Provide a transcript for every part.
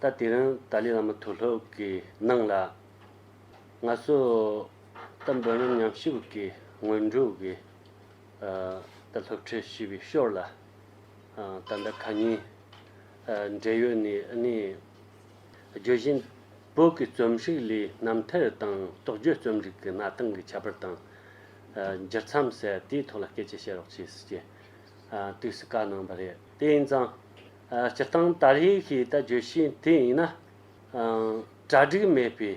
ད་དེ་རིང་ཏཱ་ལའི་བླ་མ་ཐུགས་ལྷོད་ཀྱིས་གནང་ལ། ང་ཚོས་ད་འབོད་རྣམ་ཉམས་ཞིབ་ཀྱིས་སྔོན་འགྲོ་གི་ད་སློབ་ཁྲིད་ཞུས་པའི་ཤོར་ལ། ད་ཟླ་ག་གཉིས་འབྲེལ་ཡོད་ནས་ནི། བརྗོད་བཞིན་བོད་ཀྱི་རྩོམ་རིག་ལས་རྣམ་ཐར་དང་རྟོགས་བརྗོད་རྩོམ་རིག་གི་གནའ་སྟངས་ཀྱི་ཁྱད་པར་དང། སྦྱར་མཚམས་གསལ་དེའི་ཐོག་ལ་སྐད་ཆ་བཤད་རོགས་བྱེད་ཅེས། དུས་སུ་བཀའ་གནང་བ་རེད། དེ་ཡིན་ཙང། སྤྱིར་བཏང་དར་ཡིག་ཞེས་ད་བརྗོད་བཞིན་དེ་ཡིན་ན། གྲ་སྒྲིག་མེད་པའི་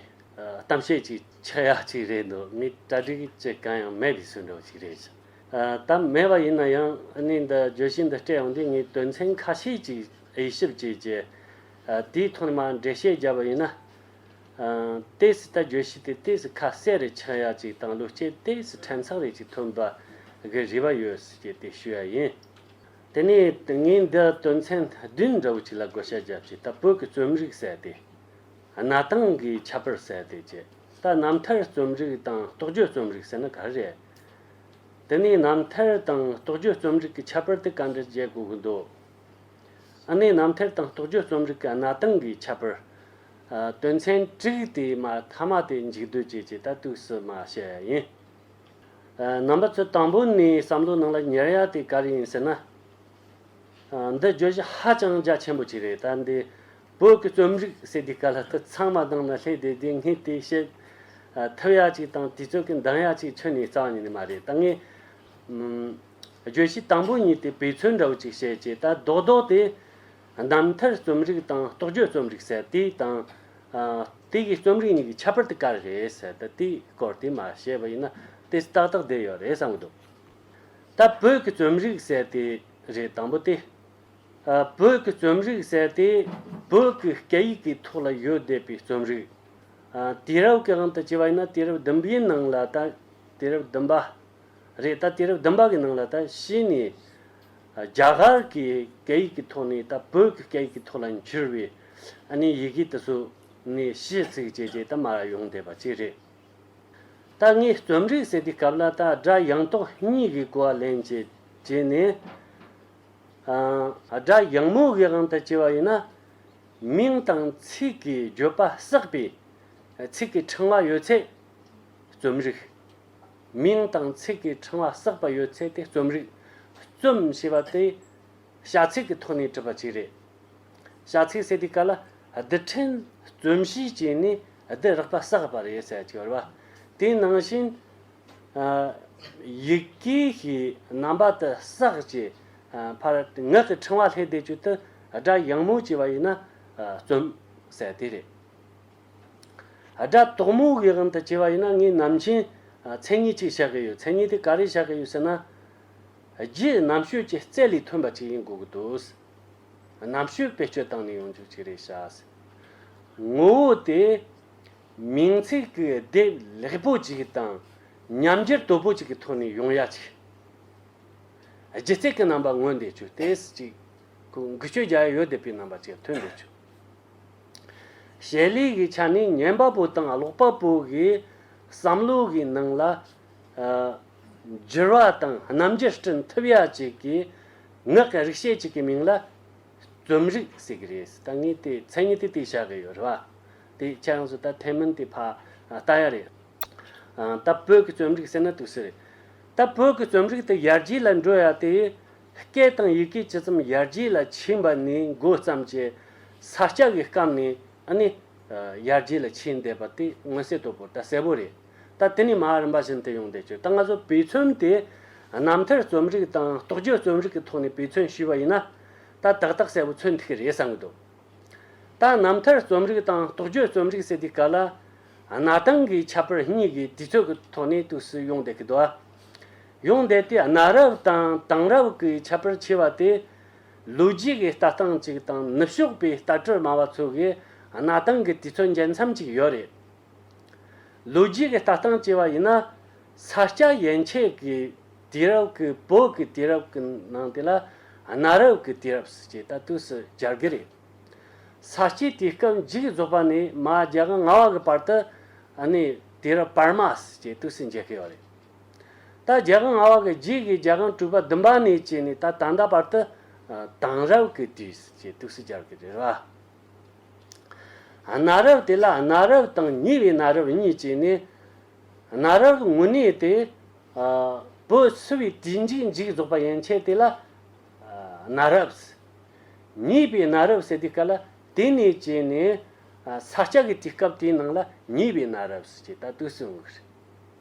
གཏམ་བཤད་ཅིག་ཆགས་ཡག་ཅིག་རེད་འདུག་ངས་གྲ་སྒྲིག་བྱེད་གང་ཡང་མེད་པའི་ཟེར་འགྲོ་བ་ཞིག་རེད། གཏམ་མེད་པ་ཡིན་ན་ཡང་གནས་འདི་བརྗོད་གཞི་འདི་སྤྲད་ཡོང་དུས་ངས་དོན་ཚན་ཁ་ཤས་ཅིག་དབྱེ་ཞིབ་བྱས་རྗེས། དེའི་ཐོག་ནས་མར་འགྲེལ་བཤད་བརྒྱབ་པ་ཡིན་ན། ཏཱའི་སི་ཏཱ་བརྗོད་གཞི་དེ་ཏཱའི་སི་ཁ་གསལ་རེ་ཆགས་ཡག་ཅིག་དང་ལུས་སྐྱེས་ཏཱའི་སི་ཕྲན་ཚགས་རེ་ཅིག་ཐོན་པ་གི་རེ་བ་ཡོད་ཅེས་དེ་ཞུས་པ་ཡིན། དེ་ནས་ངས་འདི་དོན་ཚན་བདུན་འདྲ་བོ་ཅིག་ལ་བགོ་བཤའ་བརྒྱབ་ཅིག་ད་བོད་ཀྱི་རྩོམ་རིག་ཟད་དེ། གནའ་དང་གི་ཁྱད་པར་ཟད་དེ་ཅེས་ད་རྣམ་ཐར་རྩོམ་རིག་དང་རྟོགས་བརྗོད་རྩོམ་རིག་ཟེར་ན་ག་རེ་རེད། དེ་ནས་རྣམ་ཐར་དང་རྟོགས་བརྗོད་རྩོམ་རིག་གི་ཁྱད་པར་དེ་ག་འདྲ་བརྗེད་དགོས་ཀྱི་འདུག་ཨ་ནེ་རྣམ་ཐར་དང་རྟོགས་བརྗོད་རྩོམ་རིག་གི་གནའ་དང་གི་ཁྱད་པར། དོན་ཚན་དྲུག་དེའི་མ་མཐའ་མ་དེ་འཇིག་ལྟོས་བཅས་ཀྱི་ལྟ་གཏུགས་སུ་མ་བྱས་ཡིན། རྣམ་པ་ཚོས་དང་པོ་ནས་བསམ་བློའི་ནང་ལ་ཉར་ཡག་དེ་ག་རེ་ཡིན་ཟེར་ན། འདི་བརྗོད་གཞི་ཧ་ཅང་རྒྱ་ཆེན་པོ་ཅིག་རེད་ད་འདི་བོད་ཀྱི་རྩོམ་རིག་ཟེར་དུས་ག་ལ་སྟེ་ཚང་མ་དང་ན་སླེ་དེ་དེ་སྔའི་དེ་བཤད་ཐབས་ཡག་ཅིག་དང་དུས་ཚོད་ཀྱི་འདང་ཡག་ཅིག་ཁྱོན་ནས་རྩ་བ་ཉིད་ནས་མ་རེད་ད་ངས། བརྗོད་གཞི་དང་པོ་གཉིས་དེ་བེད་ཚོད་འདྲ་བོ་ཅིག་བྱེད་ཅེས་ད་རྡོག་རྡོག་དེ། གདམ་མཐར་རྩོམ་རིག་དང་རྟོགས་བརྗོད་རྩོམ་རིག་ཟེར་དེ་དང། དེ་གའི་རྩོམ་རིག་གཉིས་ཀྱི་ཁྱད་པར་དེ་ག་རེ་རེད་ཟེར་ད་དེའི་སྐོར་དེ་མ་ཤེས་པ་ཡིན་ན་དེ་ཏག་ཏག་བསྡད་ཡོད་རེད་བསམ་གྱི་འདུག་ད་བོད་ཀྱི་རྩོམ་རིག་ཟེར་དེ་རེད་དང་པོ་དེ། བོད་ཀྱི་རྩོམ་རིག་ཟེར་དེ་བོད་ཀྱི་སྐད་ཡིག་གི་ཐོག་ལ་ཡོད་བསྡད་པའི་རྩོམ་རིག། དུས་རབས་གང་དུ་བྱས་པ་ཡིན་ན་དུས་རབས་བདུན་པའི་ནང་ལ་ད་དུས་རབས་བདུན་པ། རེད་ད་དུས་རབས་བདུན་པ་གི་ནང་ལ་ད་གཞི་ནས་རྒྱ་གར་གི་སྐད་ཡིག་གི་ཐོག་ནས་ད་བོད་ཀྱི་སྐད་ཡིག་གི་ཐོག་ལ་འགྱུར་བའི་ནི་ཡི་གེ་དེ་ཚོ་ནི་གཞི་ཚིག་བཅས་བཅས་ད་མར་ཡོང་བསྡད་པ་ཅིག་རེད། ད་ངས་རྩོམ་རིག་ཟེར་དུས་སྐབས་ལ་ད་སྒྲ་ཡངས་དོག་གཉིས་ཀྱི་གོ་བ་ལེན་བྱེད་བྱེད་ནས། སྒྲ་ཡངས་མོ་གིའང་ད་བྱས་པ་ཡིན་ན། མིང་དང་ཚིག་གི་བརྗོད་པ་བསྲེགས་པའི་ཚིག་གི་ཕྲེང་བ་ཡོད་ཚད་རྩོམ་རིག། མིང་དང་ཚིག་གི་ཕྲེང་བ་བསགས་པ་ཡོད་ཚད་དེ་རྩོམ་རིག། རྩོམ་ཞེས་པ་དེ་བྱ་ཚིག་གི་ཐོག་ནས་གྲུབ་པ་ཅིག་རེད། བྱ་ཚིག་ཟེར་དུས་ག་ལ་བསྡུ་ཕྲན་རྩོམ་གཤིས་ཀྱིས་ནི་བསྡུ་རག་པ་བསགས་པར་ཡོད་ཚད་ཅིག་རེད། དེ་ནང་བཞིན། ཡི་གེ་ཞིག་རྣམ་པ་དུ་བསགས་ཀྱི་བར་ངག་གི་ཕྲེང་བ་ལྷས་བདེ་བྱུས་དུ་སྒྲ་ཡང་མོ་བྱས་པ་ཡིན་ན་རྩོམ་ཟེར་དེ་རེད། སྒྲ་དོག་མོ་གི་དབང་དུ་བྱས་པ་ཡིན་ན་ངས་ནམ་མཁྱེན་མཚན་ཉིད་ཅིག་བཞག་གི་ཡོད་མཚན་ཉིད་དེ་ག་རེ་བཞག་གི་ཡོད་ཟེར་ན། རྗེས་གནམ་ཤོད་ཀྱི་རྩལ་ལས་ཐོན་པ་ཅིག་ཡིན་དགོས་ཀྱི་འདུག། གནམ་ཤོད་བེད་སྤྱོད་བཏང་ནས་ཡོང་རྒྱུ་ཅིག་རེད་བྱ་སྲིད། ངོ་བོ་དེ། མིང་ཚིག་གི་སྡེབ་ལེགས་པོ་ཅིག་དང་ཉམས་འགྱུར་དོད་པོ་ཅིག་གི་ཐོག་ནས་ཡོང་ཡ་ཅིག། སྒྱུ་རྩལ་གྱི་རྣམ་པ་མངོན་བསྡད་ཆོས་དེ་སྲིད་ཅིག་གུ་འགུལ་སྤྱོད་རྒྱ་ཡོད་བསྡད་པའི་རྣམ་པ་ཅིག་ཐོན་བསྡད་ཆོས། ཞལ་ལས་ཀྱི་ཆ་ནས་ཉན་པ་པོ་དང་ཀློག་པ་པོ་གྱི་བསམ་བློ་གྱི་ནང་ལ། བསྒྱུར་བ་དང་རྣམ་འགྱུར་སྐྲུན་ཐུབ་ཡ་གཅིག་གིས་ངག་གི་རིག་བྱེད་ཅིག་གི་མིང་ལ་རྩོམ་རིག་ཟེར་གྱི་རེད་ཟེར་ད་ངས་དེ་མཚན་ཉིད་དེ་དེ་བྱ་གི་ཡོད་རེད་བ། དེའི་ཁྱད་ཡོངས་སུ་ད་ཐེངས་མིན་དེ་ཕ་ལྟ་ཡ་རེད། ད་བོད་ཀྱི་རྩོམ་རིག་ཟེར་ན་དུག་སེལ་རེད། ད་བོད་ཀྱི་རྩོམ་རིག་དེ་ཡར་རྒྱས་ལ་འགྲོ་ཡ་དེ། སྐད་དང་ཡི་གེ་ཇི་ཙམ་ཡར་རྒྱས་ལ་ཕྱིན་པ་ནས་འགོ་བརྩམས་ཀྱི་ས་སྐྱ་གི་སྐབས་ནས་ནི་ཡར་རྒྱས་ལ་ཕྱིན་བསྡད་པ་དེ་མངོན་གསལ་དོད་པོ་ད་གསལ་པོ་རེད། ད་དེ་ནས་མ་རིན་པ་བཞིན་དུ་ཡོང་བསྡད་ཆོག་ད་ང་ཚོ་བེ་ཚོན་དེ་རྣམ་ཐར་རྩོམ་རིག་དང་རྟོགས་བརྗོད་རྩོམ་རིག་གི་ཐོག་ནས་བེ་ཚོན་ཞུས་པ་ཡིན་ན་ད་དག་དག་གསལ་པོ་མཚོན་ཐུག་གི་རེད་བསམ་གི་འདུག་ད་རྣམ་ཐར་རྩོམ་རིག་དང་རྟོགས་བརྗོད་རྩོམ་རིག་ཟེར་དུས་ག་ལ་གནའ་དང་གི་ཁྱད་པར་གཉིས་ཀྱི་དུས་ཚོད་ཀྱི་ཐོག་ནས་དུས་སུ་ཡོང་བསྡད་གི་འདུག་ཨ། ཡོང་བསྡད་དེ་གནའ་རབས་དང་དེང་རབས་ཀྱི་ཁྱད་པར་ཆེ་བ་དེ། ལོ་རྒྱུས་ཀྱི་ལྟ་སྟངས་གཅིག་དང་ནུབ་ཕྱོགས་པའི་ལྟ་སྤྲོད་སྨྲ་བ་ཚོ་གི་གནའ་དེང་གི་དུས་ཚོད་འགལ་མཚམས་ཅིག་ཡོད་རེད། ལོ་རྒྱུས་ཀྱི་ལྟ་སྟངས་ཅེས་པ་ཡིན་ན། ས་སྐྱ་ཡན་ཆད་ཀྱི་དུས་རབས་ཀྱི་བོད་ཀྱི་དུས་རབས་ཀྱི་ནང་དེ་ལ་གནའ་རབས་ཀྱི་དུས་རབས་ཅེས་ལྟ་དུས་སུ་སྦྱར་གྱི་རེད། ས་སྐྱའི་དུས་སྐབས་འཇིག་རྫོགས་པ་ནས་མ་རྒྱ་གི་ང་བ་གི་བར་དུ་ནི་དུས་རབས་བར་མ་ཞེས་དུས་སུ་འཇལ་གྱི་ཡོད་རེད། ད་རྒྱལ་ཁང་ང་བ་གི་རྗེས་ཀྱི་རྒྱལ་ཁང་སྤྲུལ་པ་བདུན་པ་ནས་བཅས་ནས་ད་ད་ལྟ་བར་དུ། དང་རབས་ཀྱི་དུས་སུ་ཅེས་ཏུག་སུ་སྦྱར་གི་རེད། གནའ་རབས་དེ་ལ་གནའ་རབས་དང་ཉེ་བའི་གནའ་རབས་གཉིས་བཅས་ནས། གནའ་རབས་ཀྱི་དངོས་གནས་དེ། བོད་བསུ་བའི་དུས་འཇིག་འཇིག་རྫོགས་པ་ཡན་ཆད་དེ་ལ། གནའ་རབས། ཉེས་པའི་གནའ་རབས་ཟེར་དུས་ག་ལ་དེ་ནས་བཅས་ནས། ས་སྐྱ་གི་དུས་སྐབས་དེའི་ནང་ལ་ཉེས་པའི་གནའ་རབས་སུ་ཅེས་ད་ཏུག་སུ་འོང་གི་རེད།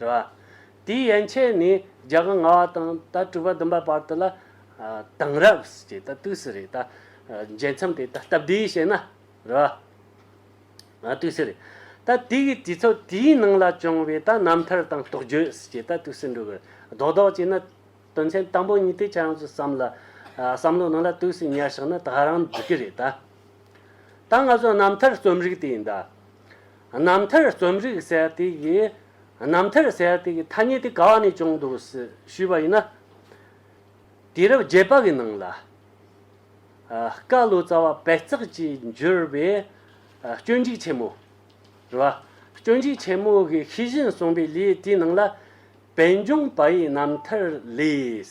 རེད་བ། དེའི་ཡན་ཆད་ནི་རྒྱ་གར་ང་བ་དང་ད་སྤྲུལ་པ་བདུན་པ་བར་དུ་ལ། དེང་རབས་ཀྱི་ད་དུས་སུ་རེད་ད། བརྒྱད་མཚམས་དེ་ད་སྟབས་བདེའི་བཤད་ན། རེད་བ། དུས་སུ་རེད་ད། དེ་གི་དུས་ཚོད་དེའི་ནང་ལ་བྱུང་བའི་ད་རྣམ་ཐར་དང་རྟོགས་བརྗོད་ཀྱི་ད་དུས་སུ་འགྲོ་གི་རེད། རྡོག་རྡོག་ཅིག་ན། དོན་ཚན་དང་པོ་གཉིས་དེ་ཁྱེད་རང་ཚོས་བསམ་ལ། བསམ་བློའི་ནང་ལ་དུས་སུ་ཉར་ཞག་ན་ད་རང་འགྲིག་གི་རེད་ད། ད་ང་ཚོ་རྣམ་ཐར་རྩོམ་རིག་དེ་ཡིན་ད། རྣམ་ཐར་རྩོམ་རིག་གསལ་ཐིག་གིས་རྣམ་ཐར་གསལ་ཐིག་གི་ཐ་སྙད་དེ་ག་བ་ནས་བྱུང་འདུག་ཞུས་པ་ཡིན་ན། དུས་རབས་བརྒྱད་པ་གི་ནང་ལ། བཀའ་བློ་རྩ་བ་པད་བརྩེགས་ཀྱིས་བསྒྱུར་བའི་སྐྱོན་འཇིགས་ཆེན་མོ། རེད་བ། སྐྱོན་འཇིགས་ཆེན་མོ་གི་ཤེས་བཞིན་གསུངས་པའི་ལས་དེའི་ནང་ལ། བན་ཆུང་པ་ཡི་རྣམ་ཐར་ལས།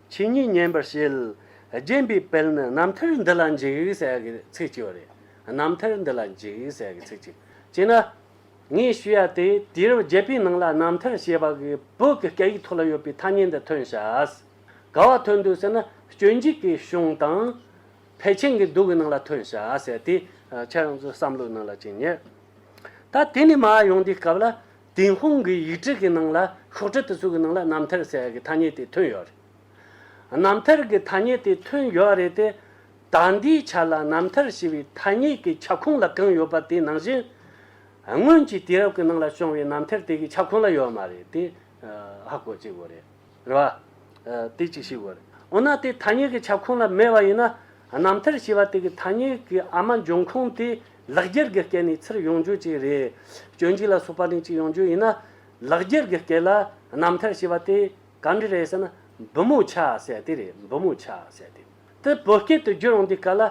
ཆོས་ཉིད་མཉན་པར་བྱེད། རྗེན་པའི་དཔལ་ནི་རྣམ་ཐར་འདི་ལ་འཇུག་ཟེར་ཡ་གི་ཚིག་གཅིག་བ་རེད། རྣམ་ཐར་འདི་ལ་འཇུག་ཟེར་ཡ་གི་ཚིག་གཅིག། ཅེ་ན། ངས་ཞུ་ཡ་དེ་དུས་རབས་བརྒྱད་པའི་ནང་ལ་རྣམ་ཐར་ཞེས་པ་གི་བོད་ཀྱི་སྐད་ཡིག་ཐོག་ལ་ཡོད་པའི་ཐ་སྙད་འདི་ཐོན་ཤག། ག་བ་ཐོན་འདུག་ཟེར་ན་སྐྱོན་འཇུག་གི་གཞུང་དང། ཕལ་ཆེན་གྱི་སྡུག་གི་ནང་ལ་ཐོན་ཤག་ཟེར་དུས་ཁྱེད་རང་ཚོའི་བསམ་བློའི་ནང་ལ་ཅི་ཉེར། ད་དེ་ནས་མ་ཡོང་དུས་སྐབས་ལ་ཏུན་ཧོང་གི་ཡིག་འབྲི་གི་ནང་ལ་ཤོག་དྲིལ་དེ་ཚོ་གི་ནང་ལ་རྣམ་ཐར་ཟེར་བ་གི་ཐ་སྙད་དེ་ཐོན་ཡོད་རེད། རྣམ་ཐར་གི་ཐ་སྙད་དེ་ཐོན་ཡོད་རེད་དེ། ད་འདིའི་ཆ་ལ་རྣམ་ཐར་ཞེས་པའི་ཐ་སྙད་ཀྱི་ཁྱབ་ཁོངས་ལ་གང་ཡོད་པ་དེ་ནང་བཞིན། སྔོན་གྱི་དུས་རབས་ཀྱི་ནང་ལ་བྱུང་བའི་རྣམ་ཐར་དེ་གི་ཁྱབ་ཁོངས་ལ་ཡོད་མ་རེད་དེ། ཧ་གོ་བྱེད་དགོས་རེད། རེ་བ། དེ་ཅིག་ཤི་བར། འོ་ན་དེའི་ཐ་སྙད་ཀྱི་ཁྱབ་ཁོངས་ལ་མེད་པ་ཡིན་ན། རྣམ་ཐར་ཞེས་པ་དེ་གའི་ཐ་སྙད་ཀྱི་ཨ་མ་འབྱུང་ཁུངས་དེ་ལག་རྒྱལ་གྱི་སྐད་ནི་ཚུར་ཡོང་རྒྱུ་ཅིག་རེད། སྐྱོན་གཅིག་ལ་སོགས་པ་ནི་ཅིག་ཡོང་རྒྱུ་ཡིན་ན། ལག་རྒྱལ་གྱི་སྐད་ལ་རྣམ་ཐར་ཞེས་པ་དེ་ག་འདྲི་རེད་ཟེར་ན། འབུ་མོ་ཆ་ཟེར་དེ་རེད་འབུ་མོ་ཆ་ཟེར་དེ། དེ་བོད་སྐད་དུ་བསྒྱུར་འོང་དུས་ག་ལ།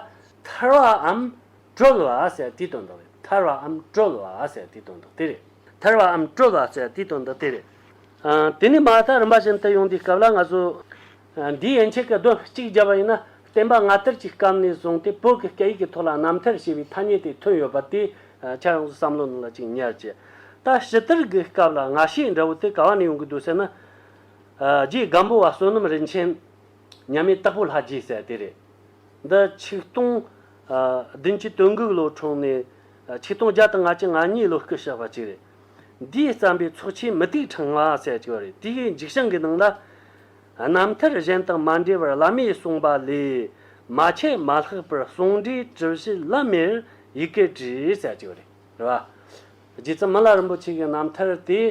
ཐར་བའམ། བཀྲོལ་བ་ཟེར་དེའི་དོན་དུ་རེད་ཐར་བའམ་བཀྲོལ་བ་ཟེར་དེའི་དོན་དུ་དེ་རེད། ཐར་བའམ་བཀྲོལ་བ་ཟེར་དེའི་དོན་དུ་དེ་རེད། དེ་ནས་མ་ཧཱ་ཀ་རིམ་པ་བཞིན་དུ་ཡོང་དུས་སྐབས་ལ་ང་ཚོས། འདིའི་ཡན་ཆད་ཀྱི་གདོན་གཅིག་བརྒྱབ་པ་ཡིན་ན་བསྟན་པ་སྔ་དར་གྱི་སྐབས་ནས་བཟུང་སྟེ་བོད་ཀྱི་སྐད་ཡིག་གི་ཐོག་ལ་རྣམ་ཐར་ཞེས་པའི་ཐ་སྙད་དེ་ཐོན་ཡོད་པ་དེ་ཆ་ཡོངས་སུ་བསམ་བློ་གནང་ལ་གཅིག་ཉར་གྱིས། ད་ཕྱི་དར་གྱི་སྐབས་ལ་ང་ཤེས་འདྲ་བོ་དེ་ག་བ་ནས་ཡོང་གི་འདུག་ཟེར་ན། རྗེའི་སྒམ་པོ་བ་བསོད་ནམས་རིན་ཆེན། མཉམ་མེད་སྟག་ཕོ་ལྷ་རྗེ་ཟེར་བ་དེ་རེད། འདི་ཆིག་སྟོང། བདུན་ཅུ་དོན་དགུ་ལོ་འཁྲུངས་ནས་ཆིག་སྟོང་བརྒྱ་དང་ང་གཅིག་ང་གཉིས་ལོ་སྐུ་བཞག་པ་ཅིག་རེད། འདིའི་བརྩམས་པའི་ཚོགས་ཆེན་མུ་ཏིག་ཕྲེང་བ་གསལ་བྱེད་རེ་ཏི་ཡའི་འཇིགས་བྱང་གི་ནང་ལ། རྣམ་ཐར་གཞན་དང་མ་འབྲེལ་བར་བླ་མས་གསུངས་པ་ལས་མ་འཆད་མ་ལྷག་པར་གསུང་འགྲེལ་དྲི་བཞི་བླ་མེར་ཡི་གེར་བྲིས་གསལ་བྱེད་རེ་རེ་བ། རྗེ་བཙུན་མ་ལ་རིན་པོ་ཆེ་གི་རྣམ་ཐར་དེ་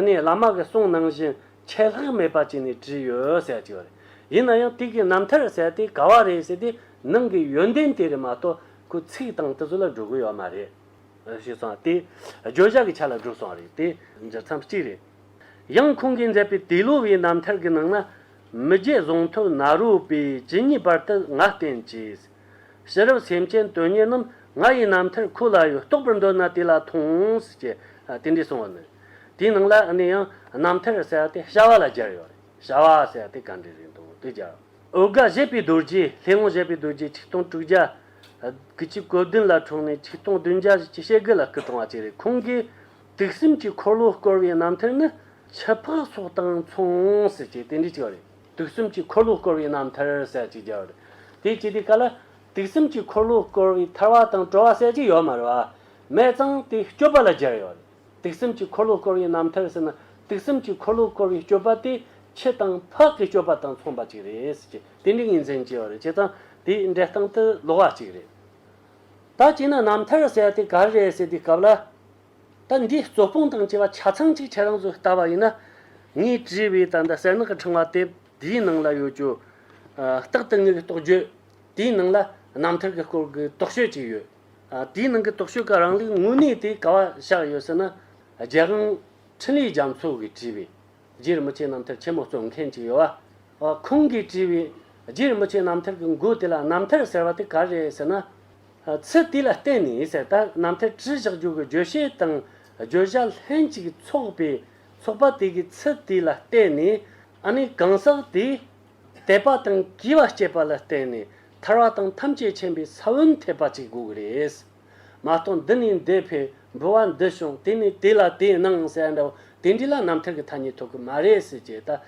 ནི་བླ་མ་གི་གསུང་ནང་བཞིན་ཆད་ལྷག་མེད་པ་བྱས་ནས་བྲིས་ཡོད་གསལ་བྱེད་རེ། ཡིན་ན་ཡང་དུས་ཀྱི་རྣམ་ཐར་གསལ་ཏེ་ག་བ་རེད་ཟེར་ཏེ་ནང་གི་ཡོན་ཏན་དེ་རེད་མ་གཏོགས་ཁོའི་ཚིག་དང་ཏི་ཟུར་ལ་འགྲོ་དགོས་ཡོད་མ་རེད། ཞེས་སོང་བ་སྟེ། བརྗོད་བྱ་གྱི་ཆ་ལ་གྲུབ་སོང་བ་རེད་དེ། འཇགས་མཚམས་གཅིག་རེད། ཡང་ཁོང་གིས་མཛད་པའི་དེ་ལོ་བའི་རྣམ་ཐར་གྱི་ནང་ན། མི་རྒྱལ་གཟུངས་ཐོད་ནཱ་རོ་པས་ཇི་སྙེད་པར་དུ་ང་བསྟེན་བྱས། ཕྱི་རབས་སེམས་ཅན་དོན་གཉེར་རྣམས་ང་ཡི་རྣམ་ཐར་ཁོ་ལ་ཡོད་རྟོགས་པར་འདོད་ན་དེ་ལ་མཐོང། ཅེས་རྟེན་འབྲེལ་གསུངས་བ་ནི། དེའི་ནང་ལ་ནི་ཡང་རྣམ་ཐར་ཟེར་བ་དེ་བྱ་བ་ལ་སྦྱར་ཡོད་རེད། བྱ་བ་ཟེར་བ་དེ་ག་འདྲའི་རིགས་འདུག་དེ་སྦྱར། འོལ་དགའ་བཞད་པའི་རྡོ་རྗེ་ལྷས་དབང་བཞད་པའི་རྡོ་རྗེ་ཆིག་སྟོང་དྲུག་བརྒྱ། དགུ་བཅུ་གོ་བདུན་ལ་འཁྲུངས་ནས་ཆིག་སྟོང་བདུན་བརྒྱ་བཞི་ཞེ་དགུ་ལ་སྐུ་བཀྲོངས་བ་བཅས་རེད་ཁོང་གིས་དུག་སེམས་ཀྱི་འཁོར་ལོ་བསྐོར་བའི་རྣམ་ཐར་ནི་ཆུ་ཕག་སོགས་དང་མཚུངས་ཟེར་གྱི་དེ་འདྲའི་གཅིག་རེད་དུག་སེམས་ཀྱི་འཁོར་ལོ་བསྐོར་བའི་རྣམ་ཐར་གསལ་གཅིག་རྒྱལ་བ་རེད་དེ་ཅི་དེ་ག་ལ་དུག་སེམས་ཀྱི་འཁོར་ལོ་བསྐོར་བའི་ཐར་བ་དང་བྲོ་བ་གསལ་གཅིག་ཡོད་མ་རེད་བ་མེད་ཙང་དེ་སྐྱོབ་པ་ལ་སྦྱར་ཡོད་རེད། སྡིག་སེམས་ཀྱི་འཁོར་ལོ་བསྐོར་བའི་རྣམ་ཐར་ཟེར་ན་སྡིག་སེམས་ཀྱི་འཁོར་ལོ་བསྐོར་བའི་སྤྱོད་པ་དེ་ཁྱི་དང་ཕག་གི་སྤྱོད་པ་དང་མཚུངས་པ་ཅིག་རེད་ཟེར་གྱི་དེ་འདྲའི་ངོས་འཛིན་བྱས་པ་རེད་བྱས་ཙང་དེའི་འགྲེལ་སྟངས་དེ་ལོག་བ་ཅིག་རེད། ད་བྱས་ན་རྣམ་ཐར་ཟེར་དེ་ག་རེ་རེད་ཟེར་དུས་སྐབས་ལ། ད་འདིའི་རྩོད་སྤོང་དང་བཅས་པ་ཆ་ཚང་གཅིག་ཁྱེད་རང་ཚོས་བལྟ་བ་ཡིན་ན། ངས་བྲིས་པའི་ད་ལྟ་གསལ་ནག་གི་ཕྲེང་བ་དེབ་དེའི་ནང་ལ་ཡོད་ཀྱི། རྟག་ཏུ་དངོས་ཀྱི་རྟོགས་བརྗོད་དེའི་ནང་ལ་རྣམ་ཐར་གྱི་སྐོར་གྱི་རྟོགས་དཔྱོད་ཅིག་ཡོད། དེའི་ནང་གི་རྟོག་དཔྱོད་ཀ་རང་ལུགས་དངོས་གནས་དེ་ག་བ་བཞག་ཡོད་ཟེར་ན། རྒྱལ་དབང་འཕྲིན་ལས་རྒྱ་མཚོ་གིས་བྲིས་པའི་རྗེ་རིན་པོ་ཆེ་རྣམ་ཐར་ཆེན་མོ་རྩོམ་མཁན་གཅིག་ཡོད། ཁོང་གིས་བྲིས་པའི་རྗེ་རིན་པོ་ཆེ་རྣམ་ཐར་གྱི་མགུར་དེ་ལ་རྣམ་ཐར་ཟེར་བ་དེ་ག་རེད་ཟེར་ན། ཚུལ་དེ་ལ་བརྟེན་ནས་ཟེར་ད་རྣམ་ཐར་བྲིས་བཞག་རྒྱུ་གི་བརྗོད་བྱའི་དང་བརྗོད་བྱ་ལྷན་ཅིག་ཚོགས་པའི་ཚོགས་པ་དེ་གའི་ཚུལ་དེ་ལ་བརྟེན་ནས་ཨ་ནི་གང་ཟག་དེའི་དད་པ་དང་བགྱི་བ་བསྐྱེད་པ་ལ་བརྟེན་ནས་ཐར་བ་དང་ཐམས་ཅད་མཁྱེན་པའི་ས་བོན་ཐེབས་པ་ཅིག་དགོས་ཀྱི་རེད། མ་གཏོགས་འདི་ནས་འདི་ཕེབས་འགྲོ་བ་འདི་བྱུང་དེ་ནས་དེ་ལ་དེ་གནང་ཟེར་བ་འདྲ་བོ་དེ་འདྲས་ལ་རྣམ་ཐར་གྱི་ཐ་སྙད་ཐོབ་ཀྱི་མ་རེད་ཟེར་ཅེས་ཏག་